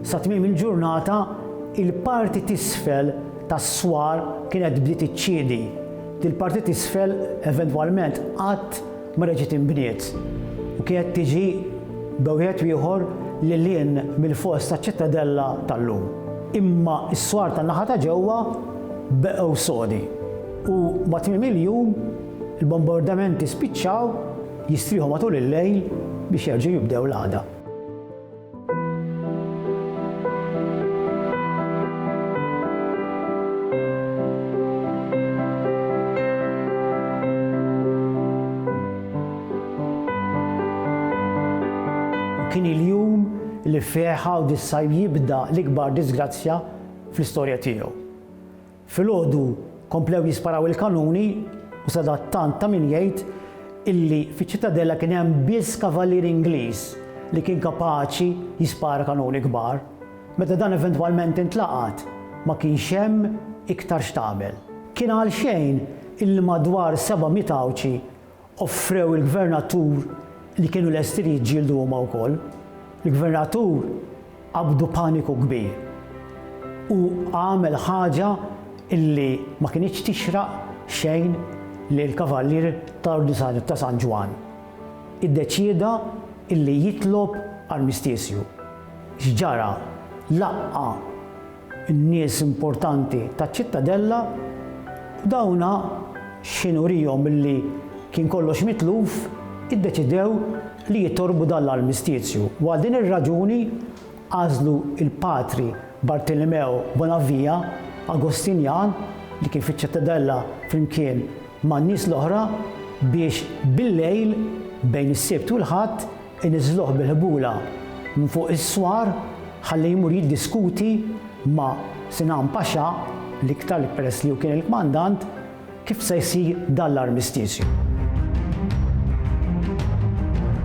sa tmiem il-ġurnata il-parti t'isfel tas-swar kienet bdiet iċċiedi. Dil-parti t'isfel eventwalment qatt Mara ġiet inbniet u kienet tiġi b'ewħed u ieħor lil hinn mill-fors taċ-Ċittadella tal-lum. Imma s-swar tan-naħa ta' ġewwa beqgħu sodi u ma' tmiem il-jum il-bombardamenti spiċċaw jistrieħu matul il-lejl biex jerġgħu jibdew l-għada. Kien il-jum li fih Għawdissaj jibda l-ikbar diżgrazzja fl-istorja tiegħu. Filgħodu komplew jisparaw il-kanuni u sadattant ta' min jgħid illi fiċ-Ċittadella kien hemm biss kavalier Ingliż li kien kapaċi jispara kanuni kbar. Meta dan eventwalment intlaqat, ma kienx hemm iktar x'tagħmel. Kien għalxejn illi madwar seba' miet Għawdxi Offrew il-gvernatur li kienu lesti li jiġġieldu huma wkoll. Il-gvernatur qabdu paniku kbir. Hu għamel ħaġa li ma kinitx tixraq xejn lill-Kavallier tal-Ordni ta' San Ġwann. Iddeċieda li jitlob armistiżju. X'ġara? Laqqa' n-nies importanti taċ-Ċittadella u dawna x'ħin uriehom illi kien kollox mitluf, iddeċidew li jittorbu dan l-armistizju u għal din ir-raġuni għażlu l-Patri Bartilimeo Bonavia, Agostinjan li kien fiċ-Ċittadella flimkien man-nies l-oħra biex bil-lejl bejn is-Sibt u l-Ħadd, Iniżżluh bil-ħbula minn fuq is-swar ħalli jmur jiddiskuti ma' Sinan Paxa, l-iktar li peress li hu kien il-kmandant, kif se jsir dan l-armistizju.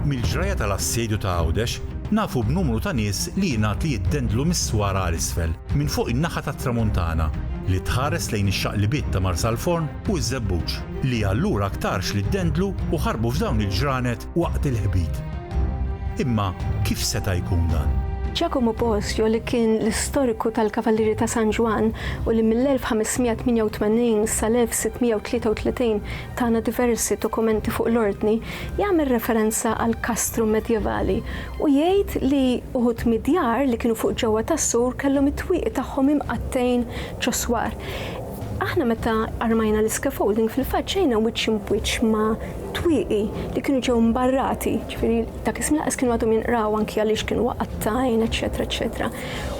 Mill-ġrajja tal-assedju ta' Għawdex nafu b'numru ta' nies li jingħad li jiddendlu mis-swar għal isfel, minn fuq in-naħa tat-Tramuntana, li tħares lejn ix-xaqlibiet ta' Marsalforn u ż-Żebbuġ, li allura aktarx li ddendlu u ħarbu f'dawn il-ġranet waqt il-ħbit. Imma kif seta' jkun dan? Giacomo Bosio li kien l-istoriku tal-Kavallieri ta' San Ġwann u li mill-1588 sal-1633 tana diversi dokumenti fuq l-Ordni, jagħmel referenza għal kastru medjevali u jgħid li uħud mid-djar li kienu fuq ġewwa tas-sur kellhom it-twieqi tagħhom imqattgħin ċ-ċoswar. Aħna meta armajna l-iscaffolding fil-fatt ġejna wiċċ imbwiċċ ma' twieqi li kienu ġew mbarrati, ġifieri dak iż-żmien laqas kienu għadhom jinqraw anki għaliex kienu waqattajn, eċetera, eċetera.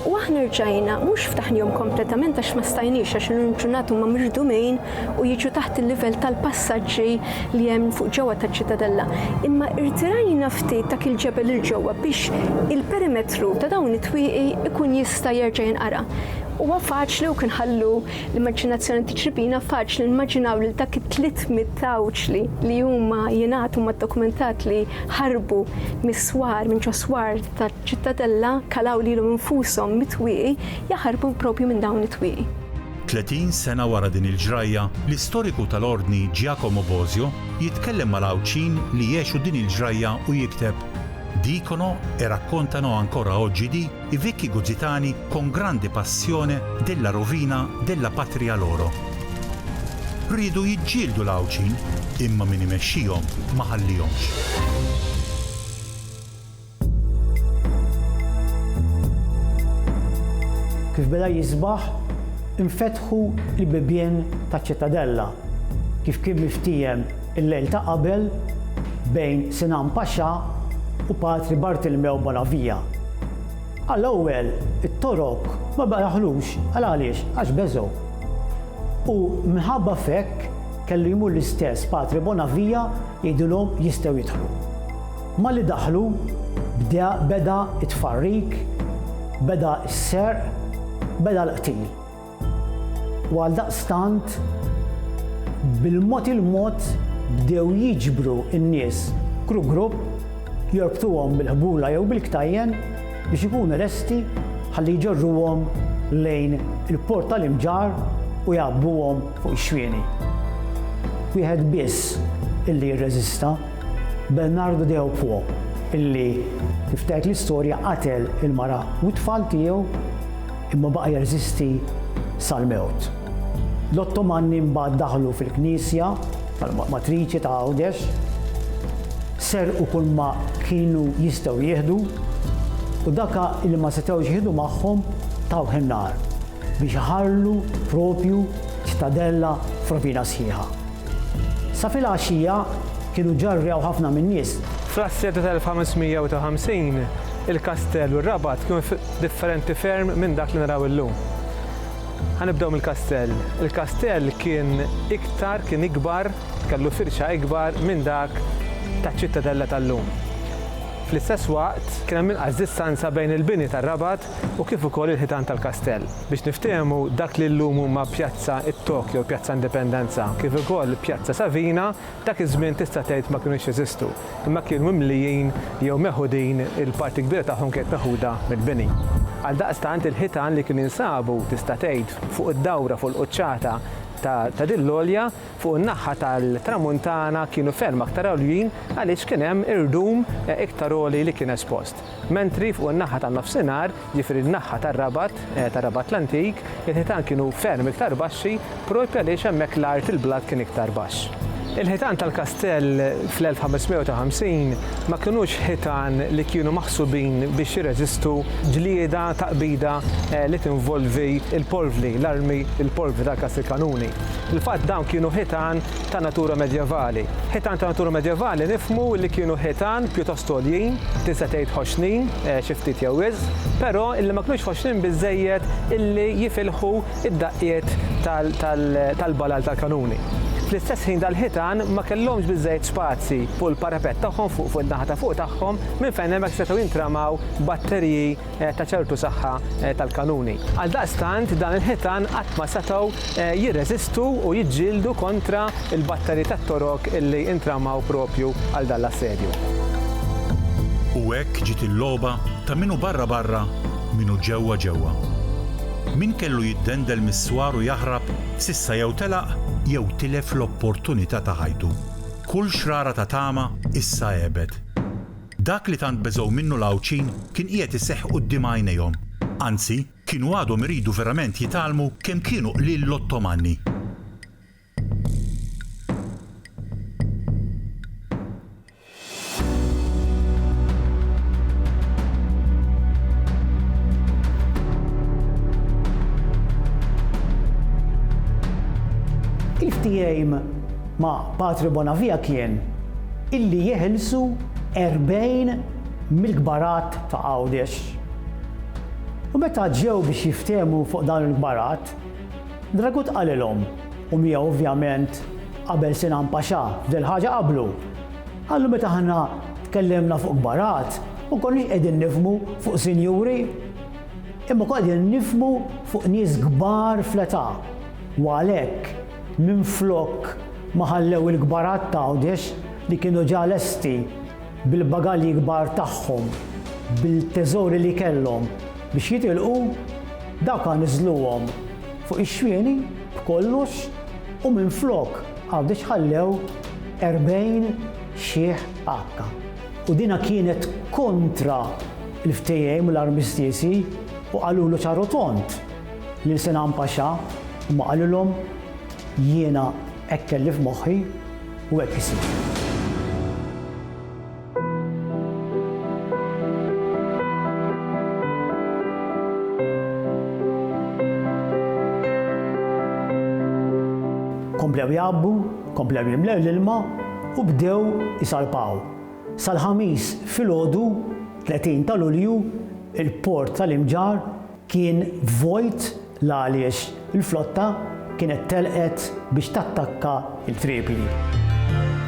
U aħna rġajna mhux ftaħnihom kompletament għax ma stajniex għax illum ġurnata huma miġdumin u jiġu taħt il-livell tal-passaġġi li hemm fuq ġewwa taċ-Ċitadella. Imma irtirajna ftit dak il-ġebel il ġewwa biex il-perimetru ta' dawn it-twieqi ikun jista' jerġa' jinqara. Huwa faċli u kien ħallu L-immaġinazzjoni tiċripina faċli nimmaġinaw lil dak it-tliet mitt tgħawġli li huma jingħatu ma' dokumentat li ħarbu mis-swar, minn ġo swar taċ-Ċittadella, kalaw lilhom infushom mit-twieqi, jaħarbu propju minn dawn it-twieqi. Tletin sena wara din il-ġrajja, l-istoriku tal-Ordni Giacomo Bosio jitkellem mal-Għawdxin li għexu din il-ġrajja u jikteb, Dicono e raccontano ancora oggi di, I vecchi gugitani con grande passione della rovina della patria loro riedu jiġġieldu l-Għawdxin imma min imexxihom ma ħallihomx. Kif beda jisbaħ, infetħu l-bibien taċ-Ċittadella. Kif kien miftiehem Il-lejl ta' qabel, bejn Sinan Paxà u Patri Bartilmew Bonavia. Għall-ewwel, it-Torok ma baqgħulux, għal għaliex? Għax beżgħu. U minħabba f'hekk kellu jmur l-istess Patri Bonavia jgħidilhom jistgħu jidħlu. Malli daħlu, bdea beda t-tfarrik, beda s-serq, beda l-qtil. U għaldaqstant, bil-mod il-mod bdew jiġbru n-nies grupp grupp, jorbtuhom bil-ħbula jew bil-ktajjen biex ikunu lesti ħalli jġorruhom lejn il-Port tal-Imġarr u jgħabbuhom fuq ix-xwieni. Wieħed biss illi rreżista, Bernardo Deopwo, illi, kif tgħid l-istorja, qatel il-mara u t-tfal tiegħu. imma baqa' jeżisti sal-mewt. L-Ottomanni mbagħad daħlu fil-knisja tal-matriċi ta' Għawdex, serqu kull ma kienu jistgħu jieħdu u dak li ma setgħux jieħdu magħhom tawh in-nar biex iħallu proprju ċtadella f'rovina sħiħa. Sa fil-għaxija kienu ġarrew ħafna min-nies. Fl-assedju tal-1550, il-kastell u r-rabat kienu differenti ferm minn dak li naraw illum. Ħa nibdew mill-kastell. Il-kastell kien iktar, kien ikbar, kellu firxa ikbar minn dak taċ-Ċittadella tal-lum. Fl-istess waqt, kien hemm inqas distanza bejn il-bini tar-Rabat u kif ukoll il-ħitan tal-kastell. Biex niftehmu, dak li llum huma Pjazza it-Tokyo u Pjazza Indipendenza, kif ukoll Pjazza Savina, Dak iż-żmien tista' tgħid ma kinux jeżistu, imma kienu mimlijin jew meħudin, il-parti kbira tagħhom kienet meħuda mill-bini. Għaldaqstant il-ħitan li kienu jinsabu, tista' tgħid, fuq id-dawra fuq il-quċċata ta' din l-għolja, fuq in-naħa tal-tramuntana kienu ferm aktar għoljin għaliex kien hemm irdum iktar għoli li kien espost. Mentri fuq in-naħa tan-Nofsinhar, jiġifieri n-naħa tar-Rabat, tar-Rabat l-antik, il-ħitan kienu ferm iktar baxxi proprju għaliex hemmhekk l-art, il-blat kien iktar baxx. Il-ħitan tal-kastell fl-1550 ma kinux ħitan li kienu maħsubin biex jirreżistu ġlieda ta' qbida li tinvolvi l-polvli, l-armi, il-polvli tal-Kastilkanuni. Fil-fatt dawn kienu ħitan ta' natura medjevali. Ħitan ta' natura medjevali nifhmu li kienu ħitan pjuttost għoljin, tinsa tgħid ħoxnin, xi ftit jew wisq, però illi ma kinux ħoxnin biżżejjed illi jifilħu d-daqqiet tal-balal tal-kanuni. Fl-istess ħin dal-ħitan ma kellhomx biżżejjed spazji fuq il-parapett tagħhom fuq in-naħa ta' fuq tagħhom minn fejn hemmhekk setgħu jintramaw batteriji ta' ċertu saħħa tal-kanuni. Għaldaqstant dan il-ħitan qatt ma setgħu jirreżistu u jiġġieldu kontra l-batteri tat-torok li intramaw proprju għal dan l-assedju. U hekk ġiet il-logħba ta' min hu barra barra, min hu ġewwa ġewwa. Min kellu jiddendel mis-swar u jaħrab s'issa jew telaq jew tilef l-opportunità ta' ħajtu. Kull xrara ta' tama issa għebet. Dak li tant beżgħu minnu l-Għawdxin kien qiegħed iseħħ quddiem għajnejhom. Anzi, kienu għadhom iridu verament jitgħallmu kemm kienu qliel l-Ottomanni. Kif tgħin ma' Patri Bonavia kien illi jeħilsu erbgħin mill-kbarat ta' Għawdex. U meta ġew biex jiftehmu fuq dawn il-kbarat, Dragut qalilhom, u miegħu ovvjament qabel Sinan Paxà f'dil ħaġa qablu, qallu meta aħna tkellimna fuq kbarat ma konniex qegħdin nifhmu fuq sinjuri, imma konna qegħdin nifhmu fuq nies kbar fl-età, u għalhekk, Minflok ma ħallew il-kbarat t'Għawdex li kienu ġa lesti bil-bagalji kbar tagħhom, bil-teżori li kellhom biex jitilqu, dawka niżżluhom fuq ix-xwieni b'kollox u minflok Għawdex ħallew 40 xiħ għakka. U dinha kienet kontra l-ftehiem u l-armistizi u qalulu ċar u tond, Lil Sinan Paxà huma qalulhom, Jiena hekk kelli f'moħħi u hekk isir. Komplew jgħabbu, komplew jimlew l-ilma u bdew isalpaw. Sal-Ħamis filgħodu, 30 ta' Lulju, il-port tal-Imġarr kien vojt l-għaliex il-flotta kienet telqet biex tattakka l-Tripli.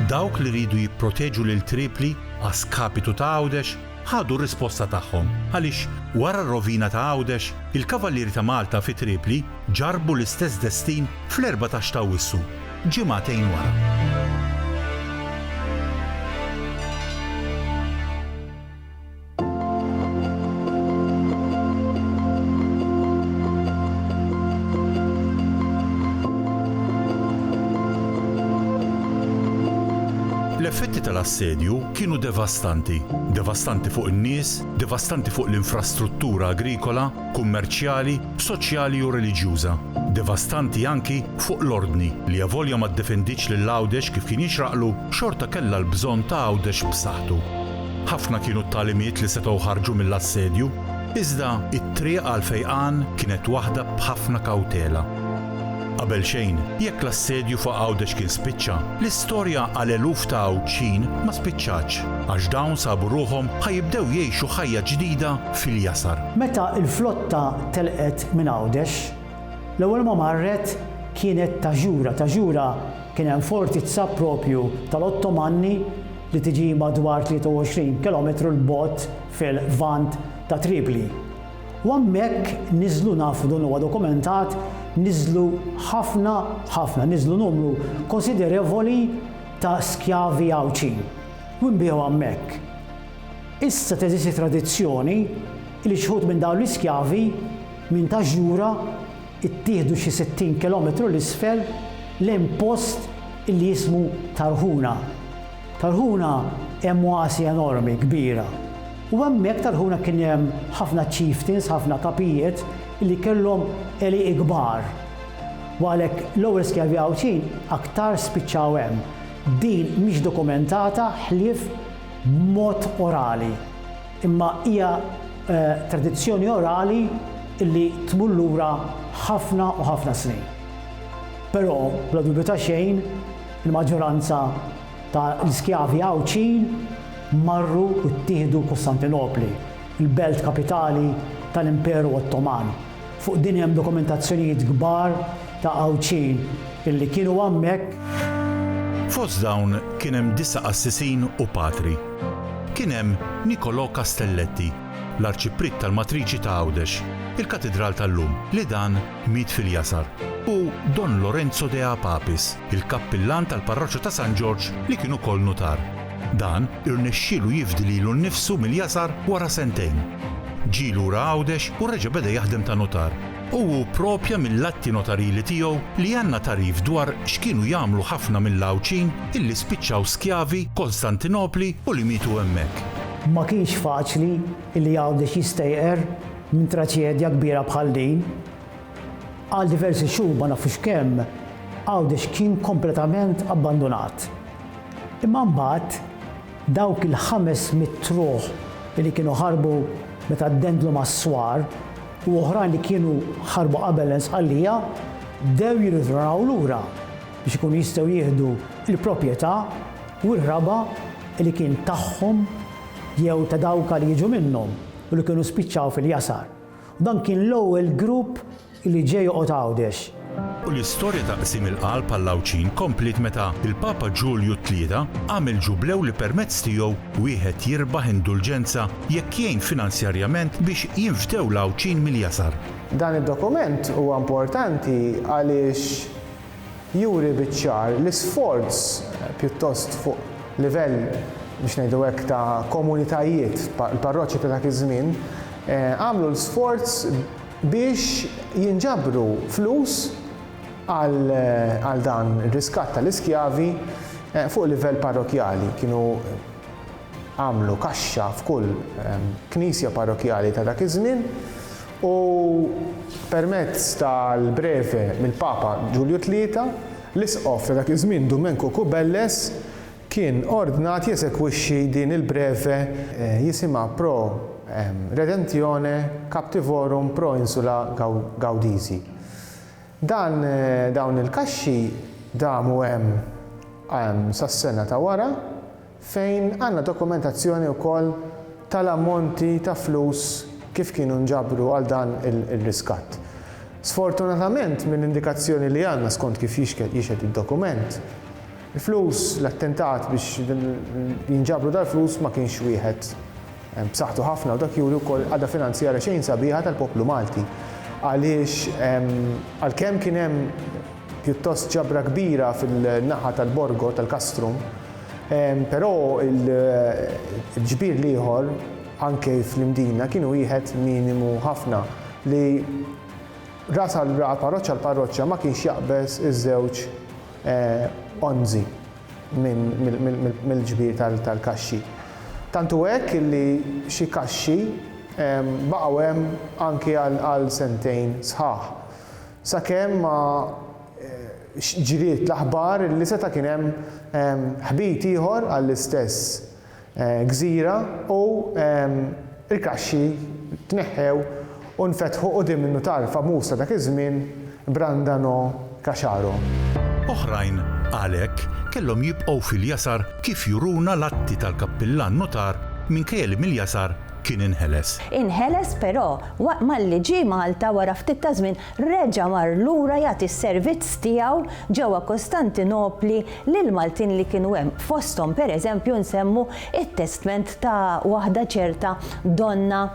Dawk li riedu jipproteġu lil Tripli a skapitu ta' Għawdex ħadu r-risposta tagħhom għaliex wara r-rovina ta' Għawdex il-Kavallieri ta' Malta fi Tripli ġarrbu l-istess destin fl-erbatax ta' Awwissu, ġimagħtejn wara. L-effetti tal-assedju kienu devastanti, devastanti fuq in-nies, devastanti fuq l-infrastruttura agrikola, kummerċjali, soċjali u reliġjuża, devastanti anki fuq l-ordni li avolja ma ddefenditx lil Għawdex kif kien jixraqlu, xorta kellha l-bżonn ta' Għawdex b'saħħtu. Ħafna kienu t-tagħlimiet li setgħu ħarġu mill-assedju, iżda t-triq għall-fejqan kienet waħda b'ħafna kawtela. Qabel xejn, jekk l-assedju fuq Għawdex kien spiċċa, l-istorja għal eluf ta' Għawdxin ma spiċċatx, għax dawn sabu ruħhom ħa jibdew jgħixu ħajja ġdida fil-jasar. Meta l-flotta telqet minn Għawdex, l-ewwel ma marret kienet Taġura. Taġura kien hemm fortizza proprju tal-Ottomanni, li tiġi madwar 23 kilometru 'l bogħod fil-Lvant ta' Tripli. U hemmhekk niżlu nafu dan huwa dokumentat niżlu ħafna ħafna niżlu numru konsiderevoli ta' skjavi Għawdxin u nbigħu hemmhekk. Issa teżisti tradizzjoni li xħud minn dawn l-iskjavi minn ta' Ġura Ittieħdu xi 60 kilometru 'l isfel lejn post li jismu Tarhuna. Tarhuna hemm oasi enormi, kbira. U hemmhekk Tarhuna kien hemm ħafna chieftains, ħafna kapijiet li kellhom għelieqi kbar. U għalhekk l-ewwel skjavi Għawdxin aktar spiċċaw hemm. Din mhix dokumentata ħlief b'mod orali. imma hija tradizzjoni orali li tmur lura ħafna u ħafna snin. Però, bla dubju ta' xejn, il-maġġoranza ta' l-iskjavi Għawdxin marru u ttieħdu Kostantinopli, il-belt kapitali ta' l-Imperu Ottoman. Fuq din hemm dokumentazzjonijiet kbar ta' Għawdxin illi kienu hemmhekk. Fost dawn kien hemm disa' qassisin u patri. Kien hemm Nicolò Castelletti, l-Arċipriet tal-Matriċi ta' Għawdex, il-Katidral tal-lum, li dan miet fil-Jasar, u Don Lorenzo de Apapis, il-Kappillan tal-Parroċċa ta' San Ġorġ li kien ukoll nutar. Dan irnexxielu jifdi lilu nnifsu mill-Jasar wara sentejn. Ġie lura Għawdex u reġa' beda jaħdem ta' nutar. U hu pprova mill-atti notarili tiegħu li għandna tagħrif dwar x'kienu jagħmlu ħafna mill-Għawdxin illi spiċċaw skjavi Kostantinopli u li mietu hemmhekk. Ma kienx faċli illi Għawdex jistejqer minn traċedja kbira bħal din. Għal diversi xhur ma nafux kemm, Għawdex kien kompletament abbandunat. Imma mbagħad Dawk il-ħames mitt ruħ li kienu ħarbu meta ddendlu mas-swar u oħrajn li kienu ħarbu qabel l-Insqallija bdew jirritornaw lura biex ikunu jistgħu jieħdu l-proprjetà u r-raba' li kien tagħhom jew ta' dawk għal jiġu minnhom u li kienu spiċċaw fil-jasar. Dan kien l-ewwel grupp Li ġie joqgħod Għawdex. U l-istorja ta' qsim il-qalb għall-Għawdxin kompliet meta l-Papa Ġulju t-Tlieta għamel ġublew li permezz tiegħu wieħed jirbaħ indulġenza jekk jgħin finanzjarjament biex jinfdew l-Għawdxin mill-jasar. Dan id-dokument huwa importanti għaliex juri biċ-ċar l-isforz pjuttost fuq livell biex ngħidu hekk ta' komunitajiet, il-parroċċi ta' dak iż-żmien għamlu l-sforz biex jinġabru flus għal dan ir-riskatt tal-iskjavi fuq livell parrokkjali. Kienu għamlu kaxxa f'kull knisja parrokkjali ta' dak iż-żmien u permezz tal-breve mill-Papa Ġulju Tlieta, l-Isqof ta' dak iż-żmien Dumenku Kubelles, kien ordnat jeżekwixxi din il-breve jisimha Pro redentione captivorum pro insula Gaudisi. Dan dawn il-kaxxi damu hemm sas-sena ta' wara fejn għandna dokumentazzjoni wkoll tal-ammonti ta' flus kif kienu nġabru għal dan ir-riskatt. Sfortunatament mill-indikazzjoni li għandna skont kif jixhed id-dokument, Il-flus, l-attentat biex jinġabru dal-flus ma kienx wieħed b'saħħtu ħafna u dak juri wkoll qagħda finanzjarja xejn sabiħa tal-poplu Malti. Għaliex għalkemm kien hemm pjuttost ġabra kbira fin-naħa tal-Borgo, tal-Castrum, però l-ġbir l-ieħor anke fl-Imdina kien wieħed minimu ħafna li ras għal parroċċa għal parroċċa ma kienx jaqbeż iż-żewġ onżi mill-ġbir tal-kaxxi. Tant hu hekk illi xi kaxxi baqgħu hemm anki għal sentejn sħaħ. Sakemm ma ġriet l-aħbar illi seta' kien hemm ħbit ieħor għall-istess gżira u l-kaxxi tneħħew u nfetħu quddiem in-nutar famuż ta' dak iż-żmien Brandano Caciaro. Oħrajn, għalhekk, kellhom jibqgħu fil-jasar kif juruna l-atti tal-kappillan nutar minkejja li mill-jasar kien inħeles. Inħeles però waqt malli ġie Malta wara ftit taż-żmien reġa' mar lura jagħti s-servizz tiegħu ġewwa Kostantinopli lill-Maltin li kienu hemm. Fosthom, pereżempju, nsemmu t-testment ta' waħda ċerta Donna,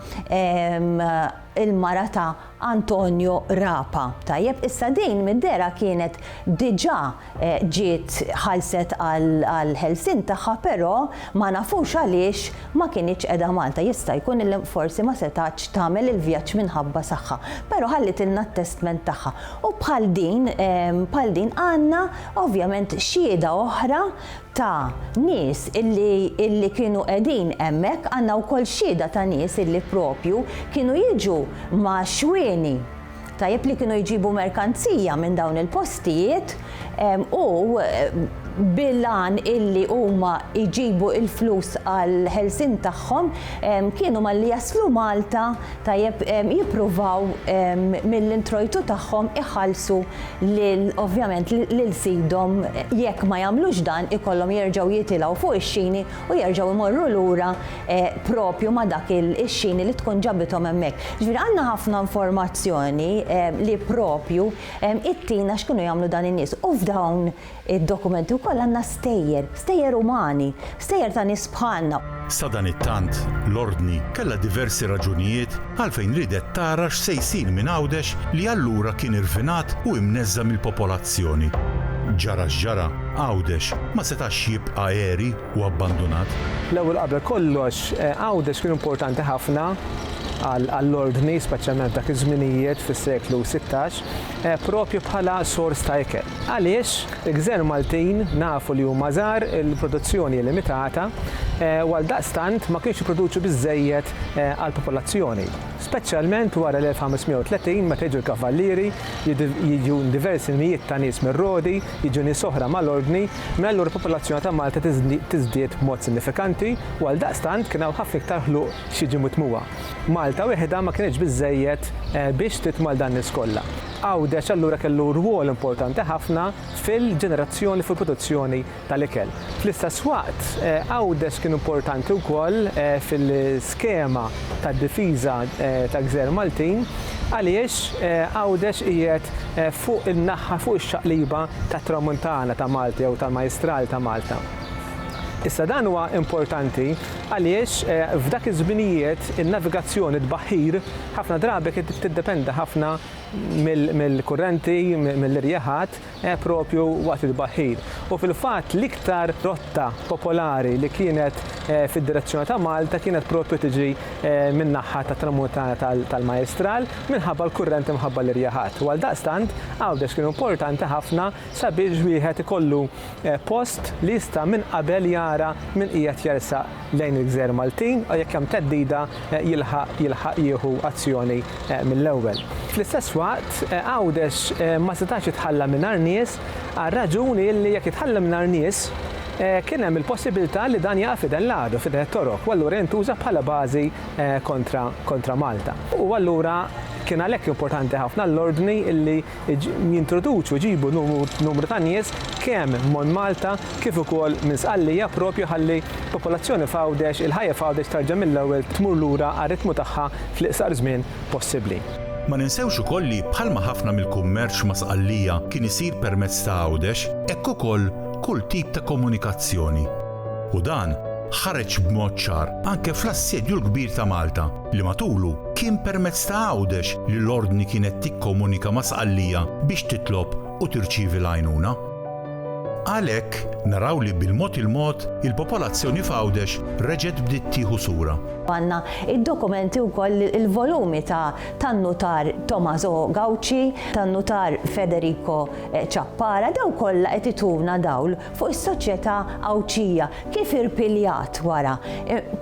il-mara ta' Antonio Rapa. Tajjeb, issa din mid-dehra kienet diġà ġiet ħallset għall-ħelsien tagħha però ma nafux għaliex ma kinitx qiegħda Malta. Jista' jkun li forsi ma setgħetx tagħmel il-vjaġġ minħabba saħħa. Però ħallitilna t-testment tagħha. U bħal din bħal din għandna ovvjament xhieda oħra ta' nies illi illi kienu qegħdin hemmhekk. Għandna wkoll xhieda ta' nies illi propju kienu jiġu ma' xwieni. Tajjeb li kienu jġibu merkanzija minn dawn il-postijiet u bil-għan illi huma jġibu il-flus għall-ħelsien tagħhom kienu malli jaslu Malta tajjeb jippruvaw mill-introjtu tagħhom iħallsu lil ovvjament lil sidhom jekk ma jagħmlux dan ikollhom jerġgħu jitilgħu fuq ix-xini u jerġgħu jmorru lura propju ma' dak ix-xini li tkun ġabithom hemmhekk. Jiġifieri għandna ħafna informazzjoni li propju ittina x'kienu jagħmlu dan in-nies. U f'dawn id-dokumenti wkoll għandna stejjer, stejjer umani, stejjer ta' nies bħalna. Sadanittant, l-Ordni kellha diversi raġunijiet għalfejn riedet tara x'se jsir minn Għawdex li allura kien irfinat u imneżża' mill-popolazzjoni. Ġara x'ġara, Għawdex ma setax jibqa' għeri. u abbandunat? L-ewwel qabel kollox, Għawdex kien importanti ħafna għall-ordni, speċjalment f'dak iż-żminijiet fis-seklu sittax, proprju bħala sors ta' ikel. Għaliex? Il-gżejjer Maltin nafu li huma żgħar, il-produzzjoni hi limitata, u għaldaqstant ma kienx jipproduċu biżżejjed għall-popolazzjoni. speċjalment wara l-1530 meta jiġu l-kavallieri, jiġu diversi mijiet ta' nies mir-Rodi, jiġu nies oħra mal-Ordni, minn allura l-popolazzjoni ta' Malta tiżdied b'mod sinifikanti u għaldaqstant kien hawn ħafna iktar ħluq x'jiġi mitmugħa. Malta wieħedha ma kinitx biżżejjed biex titma' 'l dan-nies kollha. Għawdex allura kellu rwol importanti ħafna fil-ġenerazzjoni u fil-produzzjoni tal-ikel. Fl-istess waqt, Għawdex kien importanti wkoll fil-skema tad-difiża ta' Gżejjer Maltin għaliex Għawdex qiegħed fuq in-naħa fuq ix-xaqliba tat-Tramuntana ta' Malta jew tal-Majjistral ta' Malta. Issa dan huwa importanti għaliex f'dak iż-żminijiet in-navigazzjoni, t-tbaħħir, ħafna drabi kienet tiddependi ħafna mill-kurrenti, mill-irjaħat, Eh, proprju waqt it-tbaħħir. U fil-fatt l-iktar rotta popolari li kienet eh, fid-direzzjoni ta' Malta kienet proprju tiġi eh, min-naħa tat-Tramuntana tal-Majestral minħabba l-kurrent imħabba l-irjaħat. U għaldaqstant Għawdex kien importanti ħafna sabiex wieħed ikollu post li jista' minn qabel jara min qiegħed jersaq lejn il-gżejjer Maltin u jekk hemm theddida jilħaq jilħaq jieħu azzjoni mill-ewwel. Fl-istess waqt, Għawdex ma setax jitħalla mingħajr nies għar-raġuni li jekk jitħalla mingħajr nies kien hemm il-possibilità li dan jaqa' f'idejn l-għadu, f'idejn it-Torok, u allura jintuża bħala bażi kontra Malta. U allura kien għalhekk importanti ħafna l-ordni li jintroduċu, jġibu numru ta' nies kemm mon Malta kif ukoll minn Sqallija propju ħalli popolazzjoni f'Għawdex, il-ħajja f'Għawdex terġa' mill-ewwel tmur lura għar-ritmu tagħha fl-iqsar żmien possibbli. Ma ninsewx ukoll li bħalma ħafna mill-kummerċ ma' Sqallija kien isir permezz ta' Għawdex, hekk ukoll kull tip ta' komunikazzjoni. U dan ħareġ b'mod ċar anke fl-assedju l-kbir ta' Malta. li matulu kien permezz ta' Għawdex li l-Ordni kienet tikkomunika ma' Sqallija biex titlob u tirċievi l-għajnuna. Għalhekk, naraw li bil-mod il-mod, il-popolazzjoni f'Għawdex reġgħet bdiet tieħu sura. Għandna d-dokumenti wkoll li l-volumi ta' tan-Nutar Tommaso Gauci, tan-Nutar Federico Ciappara, dawk kollha qed ituna dawl fuq is-soċjetà Għawdxija, kif irpiljat wara?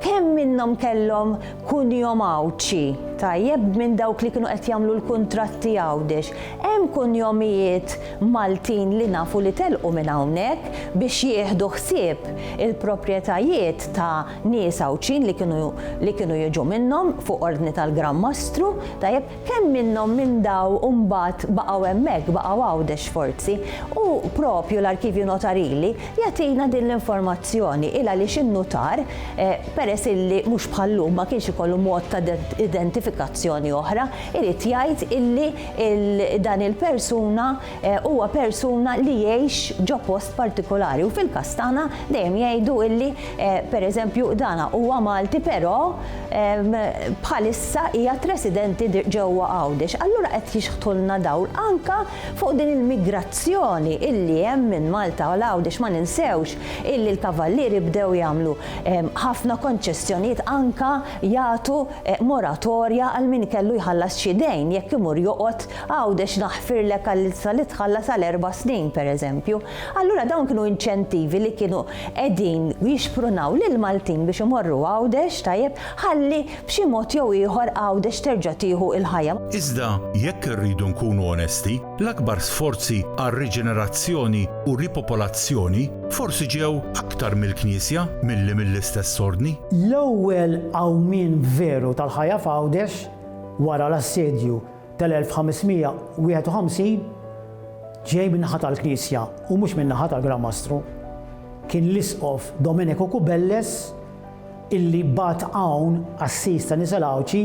Kemm minnhom kellhom kunjom Għawdxi, tajjeb, minn dawk li kienu qed jagħmlu l-kuntratti Għawdex? Hemm kunjomijiet Maltin li nafu li telqu minn hawnhekk biex jieħdu ħsieb il-proprjetajiet ta' nies Għawdxin li kienu jiġu minnhom fuq ordni tal-Gran Mastru, tajjeb. Kemm minnhom minn daw mbagħad baqgħu hemmhekk, baqgħu Għawdex forzi? U proprju l-Arkivju Notarili jagħtina din l-informazzjoni, il għaliex in-nutar, peress illi mhux bħal-lum ma kienx ikollu mod ta' identifikazzjoni oħra, irid jgħid illi dan il-persuna huwa persuna li jgħix ġo post partikolari u fil-każ tagħna dejjem jgħidu illi pereżempju dana huwa Malti però bħalissa qiegħed residenti ġewwa Għawdex. Allura qed jixħtulna dawl anke fuq din il-migrazzjoni illi hemm minn Malta għal Għawdex. Ma ninsewx illi l-Kavallieri bdew jagħmlu ħafna konċessjonijiet anke jagħtu moratorja għal min kellu jħallas xi dejn jekk imur joqgħod Għawdex naħfirlek għall-ilstra li tħallas għal erba' snin, pereżempju. Allura dawn kienu inċentivi li kienu qegħdin jixprunaw lill-Maltin biex imorru Għawdex, tajjeb, ħalli b'xi mod jew ieħor Għawdex terġa' tieħu l-ħajja. Iżda jekk irridu nkunu onesti, l-akbar sforzi għal riġenerazzjoni u ripopolazzjoni forsi ġew aktar mill-Knisja milli mill-istess Ordni. L-ewwel qawmien veru tal-ħajja f'Għawdex wara l-Assedju tal-1551 ġej min-naħa tal-Knisja u mhux min-naħa tal-Gran Mastru. Kien l-Isqof Domenico Kubelles illi bagħat hawn qassis ta' Nisa Lawċi,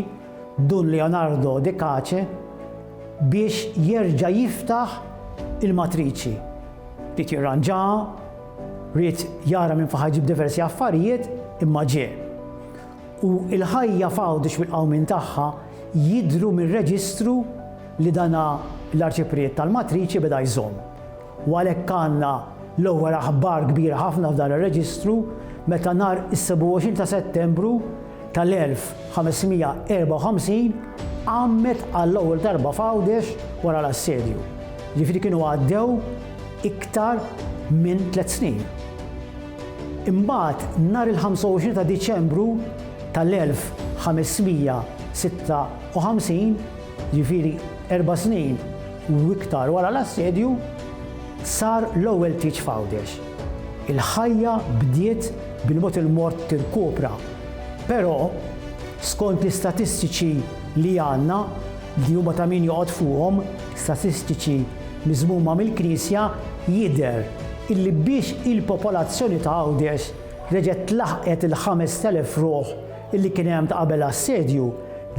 Dun Leonardo de Cace, biex jerġa' jiftaħ il-matriċi. Ried jirranġaha, ried jara minn fejn ħa jġib diversi affarijiet, imma ġie. u l-ħajja f'Għawdex bil-qawmien tagħha jidhru mir-reġistru li dan l-Arċipriet tal-Matriċi beda jżomm. U għalhekk għandna l-ewwel aħbar kbira ħafna f'dan ir-reġistru meta nhar is-27 ta' Settembru tal-1554 għammet għall-ewwel darba f'Għawdex wara l-assedju. Jiġifieri kienu għaddew iktar minn tliet snin. Imbagħad nhar il-25 ta' Diċembru tal-1556, jiġifieri erba' snin u iktar wara l-assedju, sar l-ewwel tieġ f'Għawdex. Il-ħajja bdiet bil-mod il-mod tirkupra, però skont l-istatistiċi li għandna, li huma ta' min joqgħod fuqhom, statistiċi miżmuma mill-Knisja jidher illi biex il-popolazzjoni ta' Għawdex reġgħet laħqet il-5,000 ruħ illi kien hemm ta' qabel l-assedju,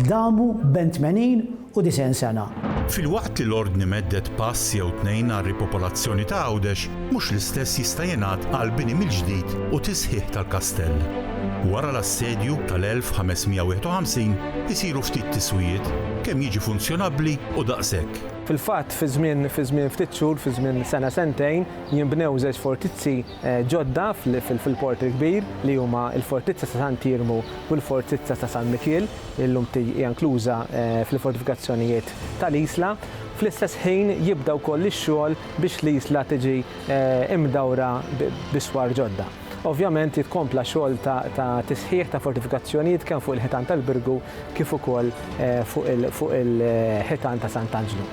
damu bejn tmenin u disgħin sena. Filwaqt li l-Ordni meddet pass jew tnejn għar-ripopolazzjoni ta' Għawdex, mhux l-istess jista' jingħad għall-bini mill-ġdid u tisħiħ tal-kastell. Wara l-assedju tal-1551 isiru ftit tiswijiet, kemm jiġi funzjonabbli u daqshekk. Fil-fatt, fi żmien fi żmien ftit xhur, fi żmien sena sentejn, jinbnew żewġ fortizzi ġodda fil-Port il-Kbir li huma l-Fortizza ta' Sant Iermu u l-Fortizza ta' San Mikiel, li llum hija nkluża fl-Fortifikazzjonijiet tal-Isla. Fl-istess ħin jibda wkoll ix-xogħol biex l-Isla tiġi mdawra b'iswar ġodda. Ovvjament jikkompla xogħol ta' tisħiħ ta' fortifikazzjonijiet kemm fuq il-ħitan tal-Birgu kif ukoll fuq il-ħitan ta' Sant'Anġlu.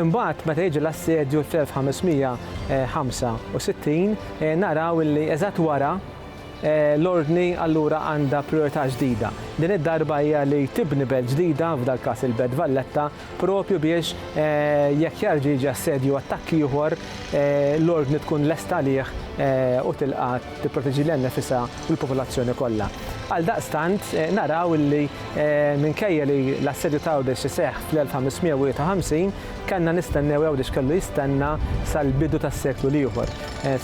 Imbagħad meta jiġi l-assedju fl-1565 naraw illi eżatt wara l-Ordni allura għandha prijorità ġdida. Din id-darba hija li tibni belt ġdida, f'dal-każ il-Belt Valletta, propju biex jekk jarġa' jiġi assedju u attakk ieħor, l-Ordni tkun lesta għalih u tilqa' tipproteġi lilha nnifisha u l-popolazzjoni kollha. Għaldaqstant, naraw li minkejja li l-assedju ta' Għawdex iseħħ fl-1551, kellna nistennew, Għawdex kellu jistenna sal-bidu tas-seklu l-ieħor,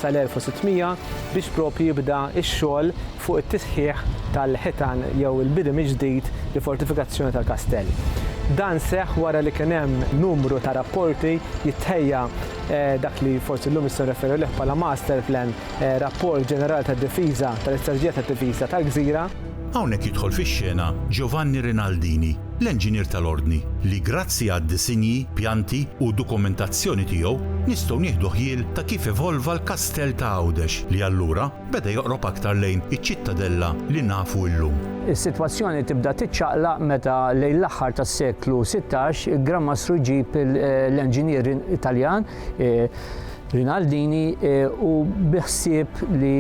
sal-1600, biex propju jibda x-xogħol fuq it-tisħiħ tal-ħitan jew il-bini mill-ġdid li fortifikazzjoni tal-kastell. Dan seħħ wara li kien hemm numru ta' rapporti jittħejja dak li forsi llum nistgħu nirreferu għalih bħala master plan, rapport ġenerali tad-difiża, tal-istrateġija tad-difiża tal-gżira. Hawnhekk jidħol fix-xena Giovanni Rinaldini, l-enġinier tal-Ordni, li grazzi għad-disinji, pjanti u dokumentazzjoni tiegħu nistgħu nieħdu ħjiel ta' kif evolva l-kastell ta' Għawdex li allura, beda joqrob aktar lejn iċ-Ċittadella li nafu illum. Is-sitwazzjoni tibda tiċċaqlaq meta lejn l-aħħar tas-seklu sittax il-Gran Mastru jġib l-enġinier Italjan Rinaldini u bi ħsieb li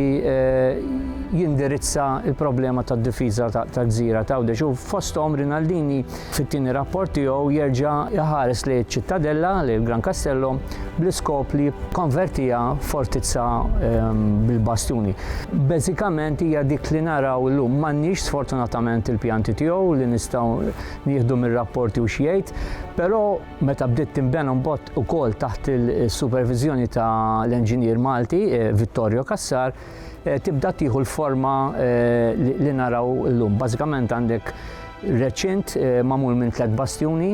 jindirizza l-problema tad-difiża tal-gżira t'Għawdex u fosthom Rinaldini Fit-tieni rapport tiegħu jerġa' iħares lejn iċ-Ċittadella, lejn il-Gran Castello, bl-iskop li jikkonvertiha fortizza ehm, bil-bastuni. Bażikament hija dik li naraw illum m'għandniex sfortunatament il-pjanti tiegħu li nistgħu nieħdu mir-rapporti u x'jgħid, però meta bdiet tinbena mbagħad ukoll taħt il-superviżjoni ta' l-enġinier Malti eh, Vittorio Cassar, eh, tibda tieħu l-forma eh, li naraw l-lum. Bażikament għandek reċint eh, mamul minn tlet bastjuni,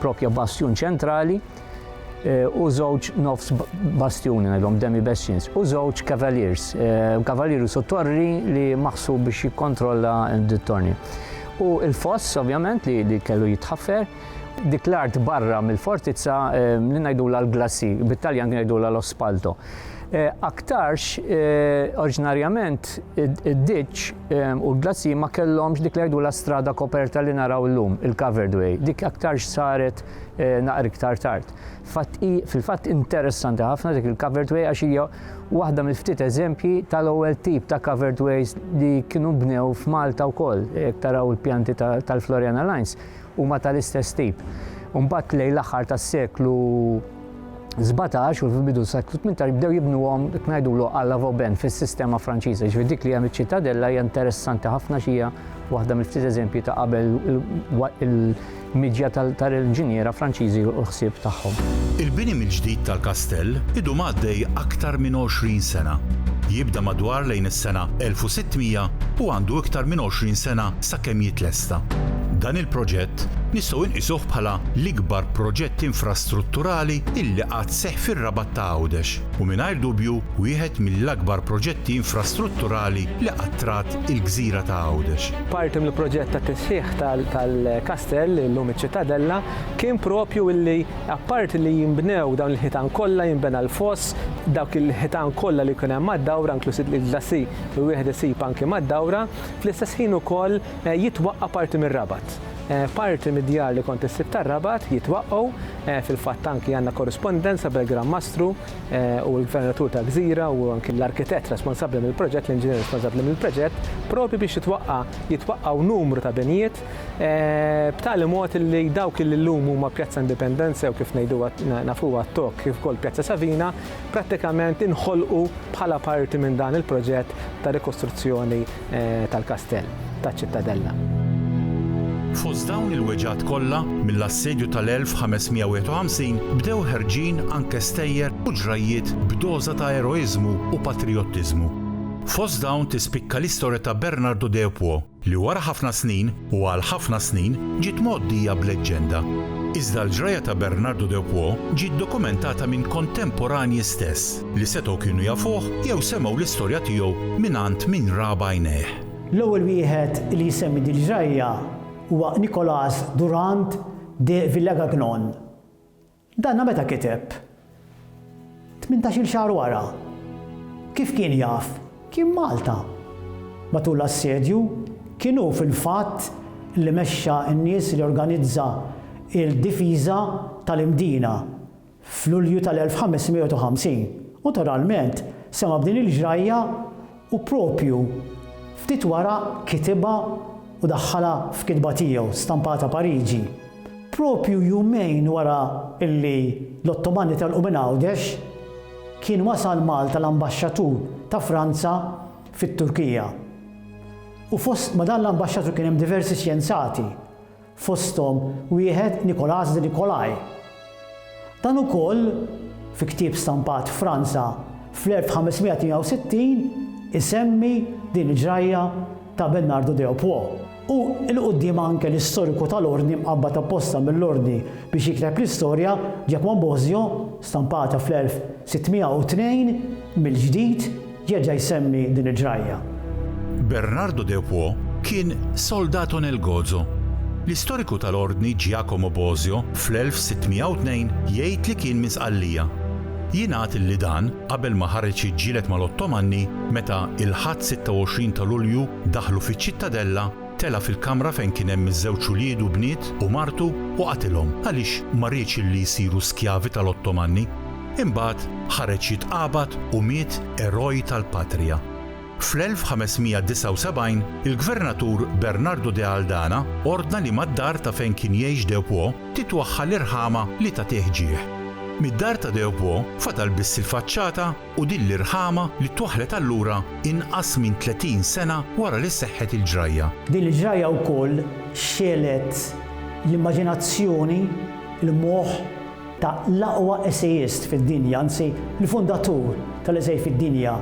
propja bastjun ċentrali, u żewġ nofs bastjuni ngħidhom demi bastions u żewġ cavaliers, cavalieri su torri li maħsub biex jikkontrolla d-torni. U il-foss ovvjament li kellu jitħaffer Dik l-art barra mill-fortizza li ngħidulha l-glassi, bit-Taljan ngħidulha l-ospalto. Eh, aktarx, eh, oriġinarjament, id-ditx eh, u l-glassi ma kellhomx dik li la strada koperta li naraw l-lum, il-covered way. Dik aktarx saret naqri iktar tard. Fil-fatt interessanti ħafna dik il-covered way għax hija waħda mill-ftit eżempji tal-ewwel tip ta' covered ways li kienu bnew f'Malta wkoll, jekk taraw il-pjanti tal-Floriana Lines. huma tal-istess tip. U mbagħad lejn l-aħħar tas-seklu 17 u fil-bidu s-seklu 18 jibdew jibnuhom ngħidulu għalla Vauban fis-sistema Franċiża. Ġifieri dik li hemm iċ-ċitadella hija interessanti ħafna xi hija waħda mill-ftit eżempji ta' qabel il-miġja tal-inġiniera Franċiżi u l-ħsieb tagħhom. Il-bini mill-ġdid tal-kastell idum għaddej aktar minn 20 sena. Jibda madwar lejn is-sena 1600 u għandu iktar minn 20 sena sakemm jitlesta. Dan il-proġett nistgħu inqisuh bħala l-ikbar proġett infrastrutturali illi qatt seħħ fir-Rabat ta' Għawdex u mingħajr dubju wieħed mill-akbar proġetti infrastrutturali li qatt rat il-gżira ta' Għawdex. Parti mill-proġett ta' tisħiħ tal-kastell, illum iċ-Ċittadella, kien proprju illi apparti li jinbnew dawn il-ħitan kollha, jinbena l-foss, dawk il-ħitan kollha li jkun hemm mad-dawra, inkluż il-glassi li wieħed isib anki mad-dawra, fl-istess ħin ukoll jitwaqqa' parti mir-Rabat. Parti mid-djar li kont issib tar-Rabat jitwaqqgħu, fil-fatt anki għandna korrispondenza bil-Gran Mastru u l-Gvernatur ta' Gżira u anki l-arkitett responsabbli mill-proġett, l-inġinier responsabbli mill-proġett, propju biex jitwaqqa' jitwaqqgħu numru ta' binjiet b'tali mod illi dawk illi llum huma Pjazza Indipendenza jew kif ngħiduha nafuha t-tok kif ukoll Pjazza Savina prattikament inħolqu bħala parti minn dan il-proġett ta' rikostruzzjoni tal-kastell taċ-Ċittadella. Fost dawn il-weġgħat kollha, mill-Assedju tal-1551 bdew ħerġin anke stejjer u ġrajjiet b'doża ta' eroiżmu u patrijottiżmu. Fost dawn tispikka l-istorja ta' Bernardo Deopuo, li wara ħafna snin u għal ħafna snin ġiet mgħoddija b'leġġenda. Iżda l-ġrajja ta' Bernardo de Puo ġiet dokumentata minn kontemporanji stess li setgħu kienu jafuh jew semgħu l-istorja tiegħu mingħand min ra b'għajnejh. L-ewwel wieħed li jsemmi din il-ġrajja huwa Nicolas Durand de Villegagnon, Danna meta kiteb? Tmintax-il xahar wara. Kif kien jaf? Kien Malta. Matul l-assedju, kien hu fil-fatt li mexxa n-nies li organizza il-difiża tal-Imdina f'Lulju tal-1550. U naturalment sema' b'din il-ġrajja U proprju ftit wara kitibha u daħħalha f'kitba tiegħu stampata Pariġi. Proprju jumejn wara li l-Ottomani telqu minn Għawdex, kien wasal Malta l-Ambaxxatur ta' Franza fit-Turkija. U fost ma' dan l-Ambaxxatur kien hemm diversi xjenzati. fosthom wieħed Nicolas de Nicolai. Dan ukoll, fi ktieb stampat f'Franza fl-1568, isemmi din il-ġrajja ta' Bernardo de Opwo. U 'l quddiem anke l-istoriku tal-Ordni mqabbad apposta mill-Ordni biex jikteb l-istorja, Giacomo Bosio, stampata fl-1602 mill-ġdid, Jerġa' jsemmi din il-ġrajja. Bernardo de Puo kien soldato nel gozo. L-istoriku tal-Ordni Giacomo Bosio fl-1602 jgħid li kien minn Sqallija. Jingħad li dan qabel ma ħareġ jiġġieled mal-Ottomanni meta il-Ħadd 26 ta' Lulju daħlu fiċ-Ċittadella, Tela' fil-kamra fejn kien hemm iż-żewġ ulied u bniet u martu u qatilhom għaliex ma riedx illi jsiru skjavi tal-Ottomanni. Imbagħad ħareġ jitqabad u miet eroj tal-patrija. Fl-1579 il-gvernatur Bernardo de Aldana ordna li mad-dar ta' fejn kien jgħix Deupó titwaħħal irħama li tagħtih ġieħ. Mid-dar ta' Deupó fadal biss il-faċċata u din l-irħama li twaħħlet allura inqas minn 30 sena wara li seħħet il-ġrajja. Din il-ġrajja wkoll xegħlet l-immaġinazzjoni, l-moħħ ta' l-aqwa essejist fid-dinja, anzi l-fundatur tal-esej fid-dinja,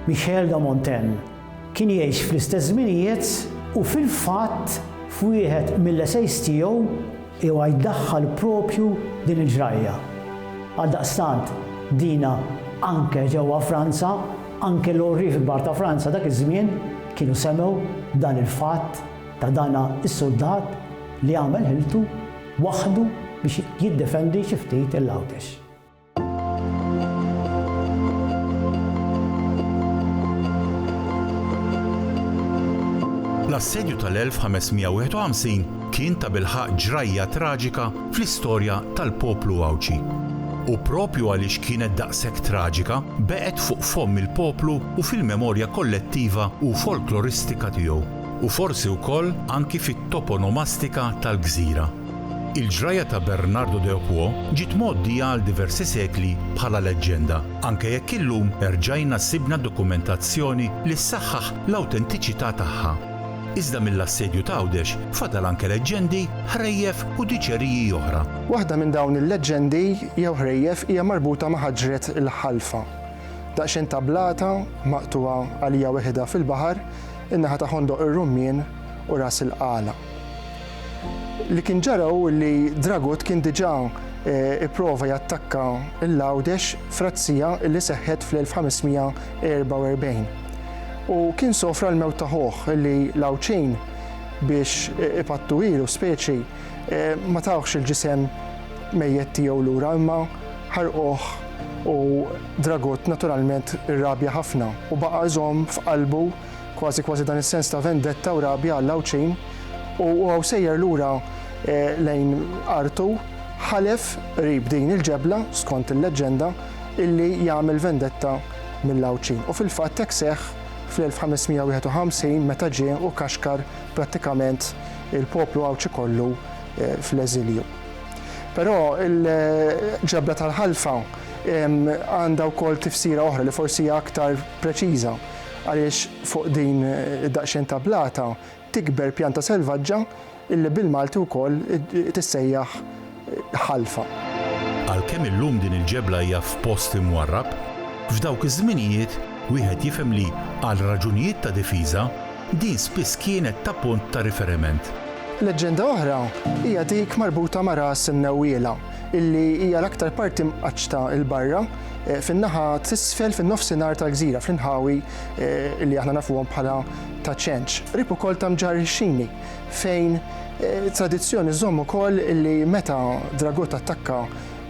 Michel de Montaigne. Kien jgħix fl-istess żminijiet u fil-fatt f'wieħed mill-esejs tiegħu huwa jdaħħal proprju din il-ġrajja. Għaldaqstant dina anke ġewwa Franza, anke l-għorrief kbar ta' Franza dak iż-żmien kienu semgħu dan il-fatt ta' dana s-suldat li għamel ħiltu waħdu biex jiddefendi xi ftit il-Għawdex. L-Assedju tal-1551 kien tabilħaqq ġrajja traġika fl-istorja tal-poplu Għawdxi. U proprju għaliex kienet daqshekk traġika, baqgħet fuq fomm il-poplu u fil-memorja kollettiva u folkloristika tiegħu, u forsi wkoll anki fit-toponomastika tal-gżira. Il-ġrajja ta' Bernardo de Opuo ġiet mgħoddija għal diversi sekli bħala leġġenda, anke jekk illum erġajna sibna dokumentazzjoni li ssaħħaħ l-awtentiċità tagħha. Iżda mill-Assedju t'Għawdex fadal anke leġġendi, ħrejjef u diċeriji oħra. Waħda minn dawn il-leġġendi jew ħrejjef hija marbuta ma' ħaġret il-Ħalfa. Daqsxejn ta' blata maqtugħa għalija weħidha fil-baħar, in-naħa ta' Ħondoq ir-Rummien u Ras il-Qala. Li kien ġara hu li Dragut kien diġà pprova jattakka l-Għawdex f'razzija li seħħet fl-1544 u kien sofra l-mewt ta' ħuh li l-Għawdxin biex ipattuhielu speċi ma tawhx il-ġisem mejjet tiegħu lura imma ħarquh u Dragut naturalment irrabja ħafna u baqa' iżomm f'qalbu Kważi kważi dan is-sens ta' vendetta u rabja għall-Għawdxin u huwa sejjer lura lejn artu ħalef qrib din il-ġebla, skont il-leġġenda, illi jagħmel vendetta mill-Għawdxin. U fil-fatt hekk seħħ fl-1551 meta ġie u kaxkar prattikament il-poplu Għawdxi kollu fl-eżilju. Però il-ġebla tal-Ħalfa għandha wkoll tifsira oħra li forsi hija aktar preċiża. għaliex fuq din id-daqsxejn ta' blata tikber pjanta selvaġġa illi bil-Malti wkoll tissejjaħ ħalfa. Għalkemm illum din il-ġebla hija f'post imwarrab, f'dawk iż-żminijiet wieħed jifhem li, għal raġunijiet ta' difiża, din spiss kienet ta' punt ta' riferiment. Leġġenda oħra hija dik marbuta ma' ras imnewwiela, illi hija l-aktar parti mqaċċta 'l barra eh, fin-naħa t'isfel fin-nofsinhar tal-gżira fl-inħawi eh, li aħna nafuhom bħala ta' ċenċ. Rib ukoll ta' mġar xini fejn eh, tradizzjoni żomm ukoll li meta Dragut attakka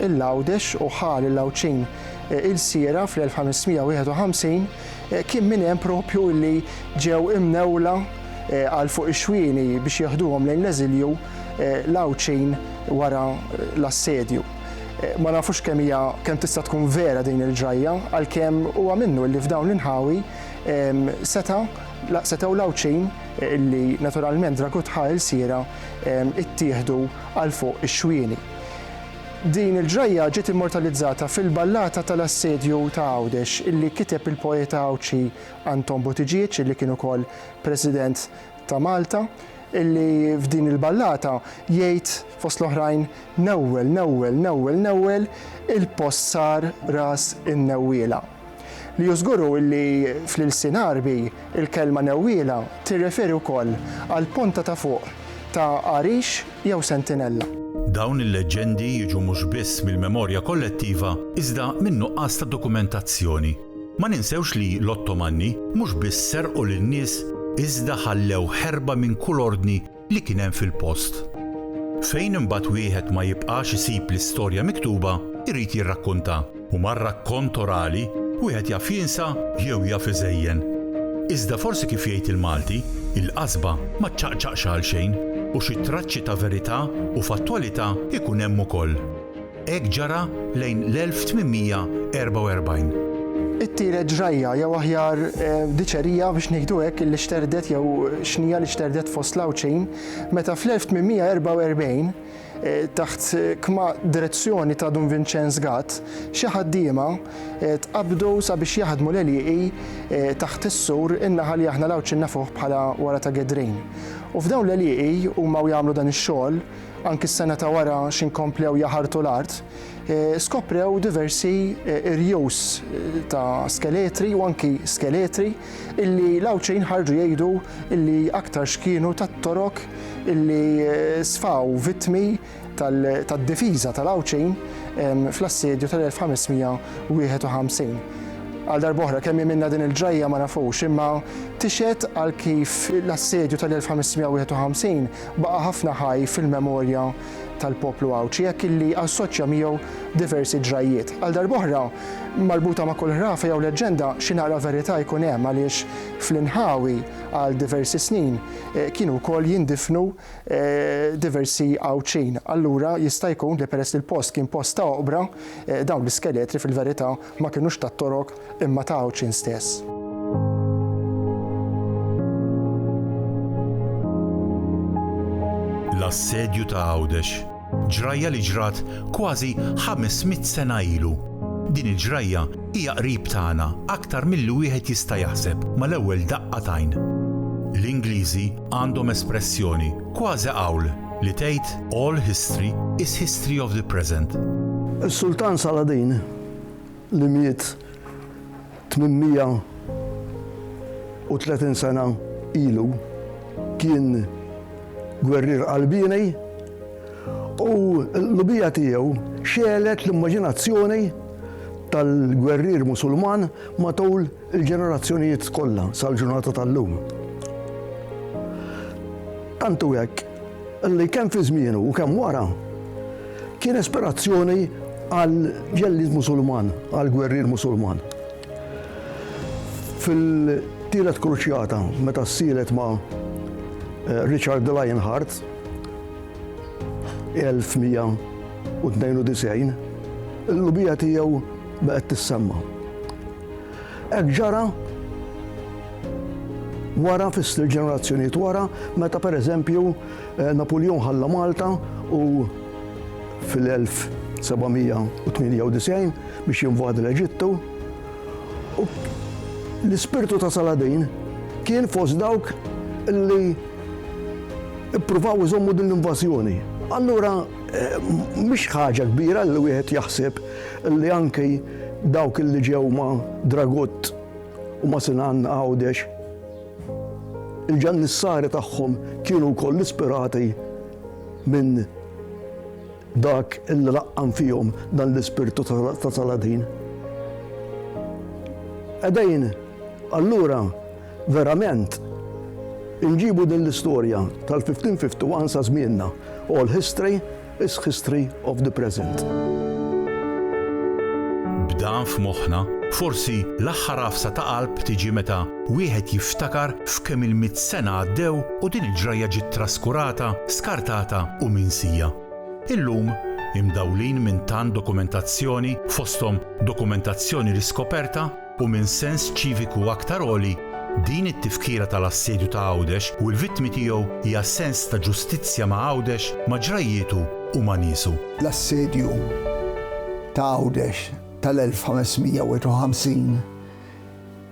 il-Lawdex u ħal il-Lawċin il-sira fl-1551 kien minn hemm propju li ġew imnewla għal fuq ix-xwieni biex jaħduhom lejn l-eżilju l-Lawċin wara l-assedju. Ma nafux kemm hija kemm tista' tkun vera din il-ġrajja, għalkemm huwa minnu li f'dawn l-inħawi seta' setgħu l-Għawdxin li naturalment Dragut ħa ilsiera ittieħdu għal fuq ix-xwieni. Din il-ġrajja ġiet immortalizzata fil-ballata tal-Assedju ta' Għawdex illi kiteb il-poeta Għawdxi Anton Buttigieg illi kien ukoll President ta' Malta illi f'din il-ballata jgħid fost l-oħrajn Newwel, Newwel, Newwel, Newwel, il-post sar ras in-newwiela. Li hu żguru illi fl-ilsien Għarbi il-kelma newwiela tirreferi wkoll għall-ponta ta' fuq ta' għarix jew sentinella. Dawn il-leġġendi jiġu mhux biss mill-memorja kollettiva iżda min-nuqqas ta' dokumentazzjoni. Ma ninsewx li l-Ottomanni mhux biss serqu lin-nies iżda ħallew ħerba minn kull ordni li kien hemm fil-post. Fejn imbagħad wieħed ma jibqax isib l-istorja miktuba jrid jirrakkuntha u mar-rakkont orali wieħed jaf jinsa jew jaf iżejjen. Iżda forsi kif jgħid il-Malti, il-qasba ma ċċaqċaqx għalxejn u xi traċċi ta' verità u fattwalità jkun hemm ukoll. Hekk ġara lejn l-1844. It-tielet ġrajja, jew aħjar diċerija biex ngħidu hekk, illi xterdet jew xnija li xterdet fost l-Għawdxin meta fl-1844, taħt kma direzzjoni ta' Dun Vinċenz Gatt, xi ħaddiema tqabbdu sabiex jaħdmu l-għelieqi taħt is-sur in-naħa li aħna l-Għawdxin nafuh bħala wara ta' Gedrejn. U f'dawn l-għelieqi, huma u jagħmlu dan ix-xogħol, anki s-sena ta' wara x'inkomplew jaħartu l-art, skoprew diversi irjus ta' skeletri u anki skeletri illi l-Għawdxin ħarġu jgħidu illi aktar x'kienu tat-Torok illi sfaw vittmi tad-difiża tal-Għawdxin fl-assedju tal-1551. Għal darb'oħra kemm jemilna din il-ġrajja ma nafux, imma tixhed għal kif l-assedju tal-1551 Baqa' ħafna ħaj fil-memorja tal-poplu Għawdxi hekk illi assoċja miegħu diversi ġrajjiet. Għal darb'oħra, marbuta ma' kull ħrafa jew leġġenda xi naqra verità jkun hemm għaliex fl-inħawi għal diversi snin kienu wkoll jindifnu diversi Għawdxin. Allura jista' jkun li peress li l-post kien post ta' oqbra, dawn l-iskeletri fil-verità ma kinux ta' Torok imma ta' Għawdxin stess. L-assedju ta' Għawdex, ġrajja li ġrat kważi 500 sena ilu. Din il-ġrajja hija qrib tagħna aktar milli wieħed jista' jaħseb mal-ewwel daqqa t'għajn. L-Ingliżi għandhom espressjoni, kważi qawl, li tgħid, All history is history of the present. Is-Sultan Saladin li miet 830 sena ilu kien gwerrier qalbieni u l-qlubija tiegħu xegħlet l-immaġinazzjoni tal-gwerrier Musulman matul il-ġenerazzjonijiet kollha sal-ġurnata tal-lum. Tant hu hekk li kemm fi żmienu u kemm wara kien ispirazzjoni għal ġellied Musulman, għal gwerrier Musulman. Fil-Tielet Kruċjata, meta ssielet ma' eh, Richard de Lionheart, 1192, il-lubija tiegħu baqgħet tissemma. Hekk ġara wara fis-sitt ġenerazzjonijiet wara meta pereżempju eh, Napuljon ħalla Malta u fil-1798 biex jinvadi l-Eġittu. U l-ispirtu ta' Saladin kien fost dawk li ippruvaw iżommu din l-invażjoni. Allura, eh, mhix ħaġa kbira li wieħed jaħseb li anki Dawk illi ġew ma' Dragut u ma' Sinan Għawdex, il-ġannissari tagħhom kienu wkoll ispirati minn dak illi laqqam fihom dan l-ispirtu ta' Saladin. Qegħdin allura verament inġibu din l-istorja tal-1551 sa żmienna, oral history, Is history of the present. B'dan f'moħħna, forsi l-aħħar għafsa ta' qalb tiġi meta wieħed jiftakar f'kemm il-mitt sena għaddew u din il-ġrajja ġiet traskurata, skartata u minsija. Illum, imdawlin minn tant dokumentazzjoni, fosthom dokumentazzjoni riskoperta, u minn sens ċiviku aktar għoli, din it-tifkira tal-assedju ta' Għawdex u l-vittmi tiegħu hija sens ta' ġustizzja ma' Għawdex, ma' ġrajjietu u ma' niesu. L-assedju ta' Għawdex tal-1551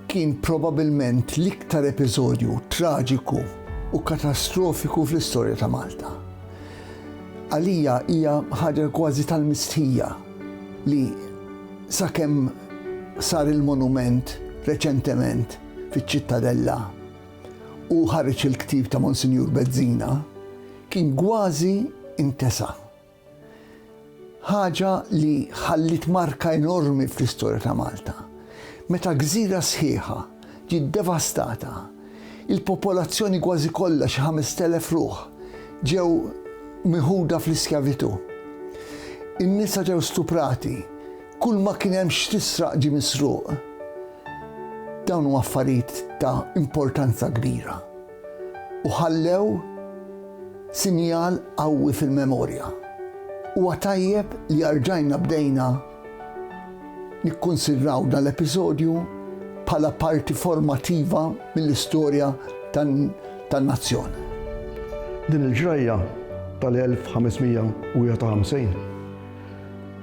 kien probabilment l-iktar episodju traġiku u katastrofiku fl-istorja ta' Malta. Għalija hija ħaġa kważi tal-mistħija li sakemm sar il-monument reċentement fiċ-Ċittadella u ħareġ il-ktieb ta' Monsinjur Bezzina, kien kważi intesa'. Ħaġa li ħalliet marka enormi fl-istorja ta' Malta. Meta gżira sħiħa ġiet devastata, il-popolazzjoni kważi kollha xi 5,000 ruħ ġew miħuda fl-iskjavitù. In-nisa ġew stuprati, Kull ma kien hemm x'tisraq ġie misruq. Dawn huma affarijiet ta' importanza kbira u ħallew sinjal qawwi fil-memorja. Huwa tajjeb li arġajna bdejna nikkunsidraw dan l-episodju bħala parti formattiva mill-istorja tan-nazzjon. Din il-ġrajja tal-1551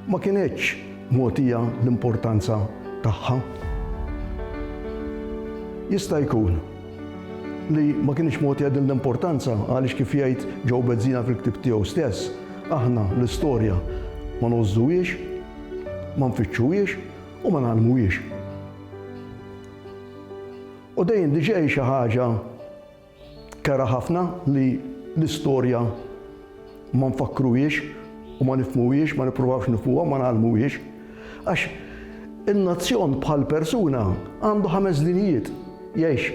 Ma kinetx mogħtija l-importanza tagħha. Jista' jkun li ma kinitx mogħtija din l-importanza għaliex kif jgħid Joe Bezzina fil-ktieb tiegħu stess, aħna l-istorja ma ngħożżuhiex, ma nfittxuhiex u ma ngħallmuhiex. U dejjem diġà hi xi ħaġa Kera ħafna li l-istorja ma nfakkruhiex u ma nifhmuhiex, ma nippruvawx nifhmuha, ma ngħallmuhiex. Għax in-nazzjon bħal persuna għandu ħames dinijiet. Jgħix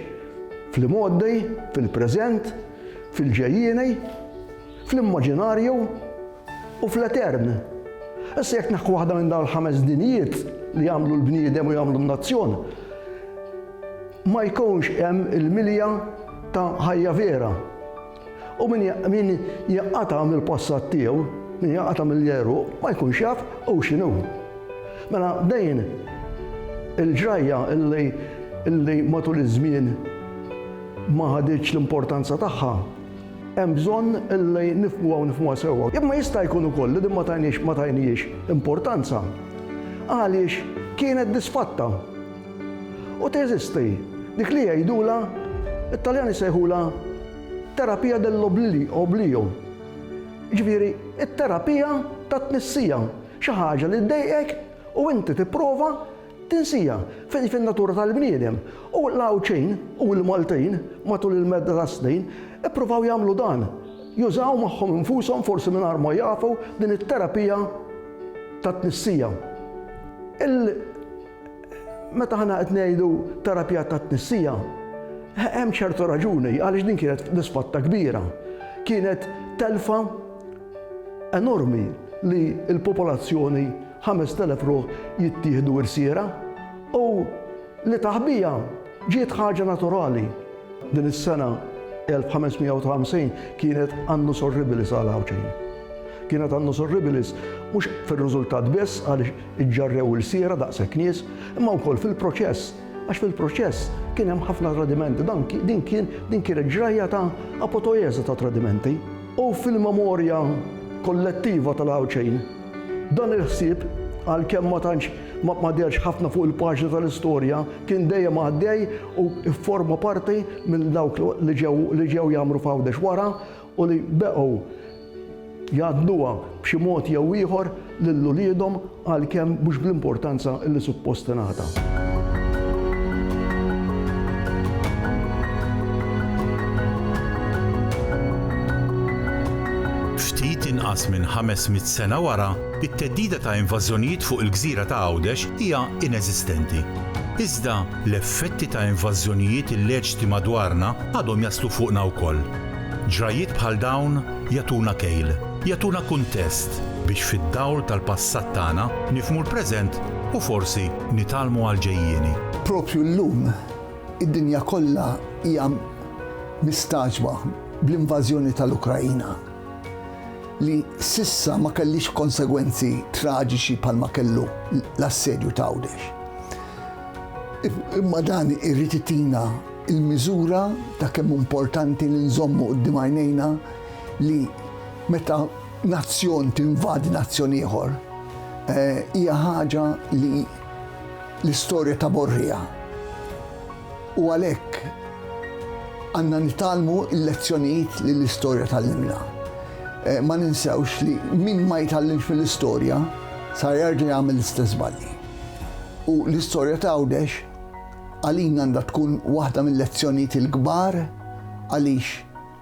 fl-imgħoddej, fil-preżent, fil-ġejjieni, fl-immaġinarju, U fl-etern. Issa jekk naħku waħda minn dawn il-ħames dinijiet li jagħmlu l-bniedem u jagħmlu n-nazzjon, ma jkunx hemm il-milja ta' ħajja vera. U min jaqata mill-passat tiegħu, min jaqata mill-jeru, ma jkunx jaf u x'inhu. Mela dejn il-ġrajja illi matul iż-żmien ma ħaditx l-importanza tagħha, Hemm bżonn li nifhmuha u nifhmuha sewwa. Imma jista' jkun ukoll li din ma tajniex ma tajnihiex importanza għaliex kienet disfatta. U teżisti dik li jgħidulha, it-Taljan isejħulha terapia dell'oblio, jiġifieri t-terapija tat-tnissija, xi ħaġa li ddejqek u inti tipprova Tinsija fejn fin-natura tal-bniedem u l-Għawdxin u l-Maltin matul il-medda tas-snin ippruvaw jagħmlu dan, jużaw magħhom infushom forsi mingħajr ma jafu din it-terapija tat-tnissija. Il Meta aħna qed ngħidu terapija tat-tnissija, hemm ċertu raġuni għaliex din kienet disfatta kbira. Kienet telfa enormi li l-popolazzjoni Ħamest elef ruħ jittieħdu irsiera u li taħbija ġiet ħaġa naturali. Din is-sena 1550 kienet Annus Horribilis għal Għawdxin. Kienet Annus Horribilis mhux fir-riżultat biss għaliex iġġarrew irsiera daqshekk nies, imma wkoll fil-proċess għax fil-proċess kien hemm ħafna tradimenti. Dan din kien din kienet ġrajja ta' apotojeża ta' tradimenti. U fil-memorja kollettiva tal-Għawdxin, Dan il-ħsieb, għalkemm ma tantx ma dehrx ħafna fuq il-paġni tal-istorja, kien dejjem għaddej u fforma parti minn dawk li ġew li ġew jgħammru f'Għawdex wara u li beqgħu jgħaddnuha b'xi mod jew ieħor lil uliedhom għalkemm mhux bl-importanza li suppost tingħata. Ftit inqas minn 500 sena wara, it-theddida ta' invażjonijiet fuq il-gżira ta' Għawdex hija ineżistenti. Iżda, l-effetti ta' invażjonijiet illeċti madwarna għadhom jaslu fuqna wkoll. Ġrajjiet bħal dawn jagħtuna kejl, jagħtuna kuntest biex fid-dawl tal-passat tagħna nifhmu l-preżent u forsi nitgħallmu għall-ġejjieni. Proprju llum, id-dinja kollha hija mistagħġba bl-invażjoni tal-Ukraina, li s'issa ma kellhiex konsegwenzi traġiċi bħalma kellu l-assedju ta' Għawdex. Imma dan irid itina l-miżura ta' kemm hu importanti li nżommu quddiem għajnejna li meta nazzjon tinvadi nazzjon ieħor hija ħaġa li l-istorja taborriha. U għalhekk għandna nitgħallmu l-lezzjonijiet li l-istorja tgħallimna. Eh, ma ninsewx li min ma jitgħallimx mill-istorja sa jarġa' jagħmel l-istess balli. U l-istorja ta' Għawdex għalina għandha tkun waħda mill-lezzjonijiet il-kbar għaliex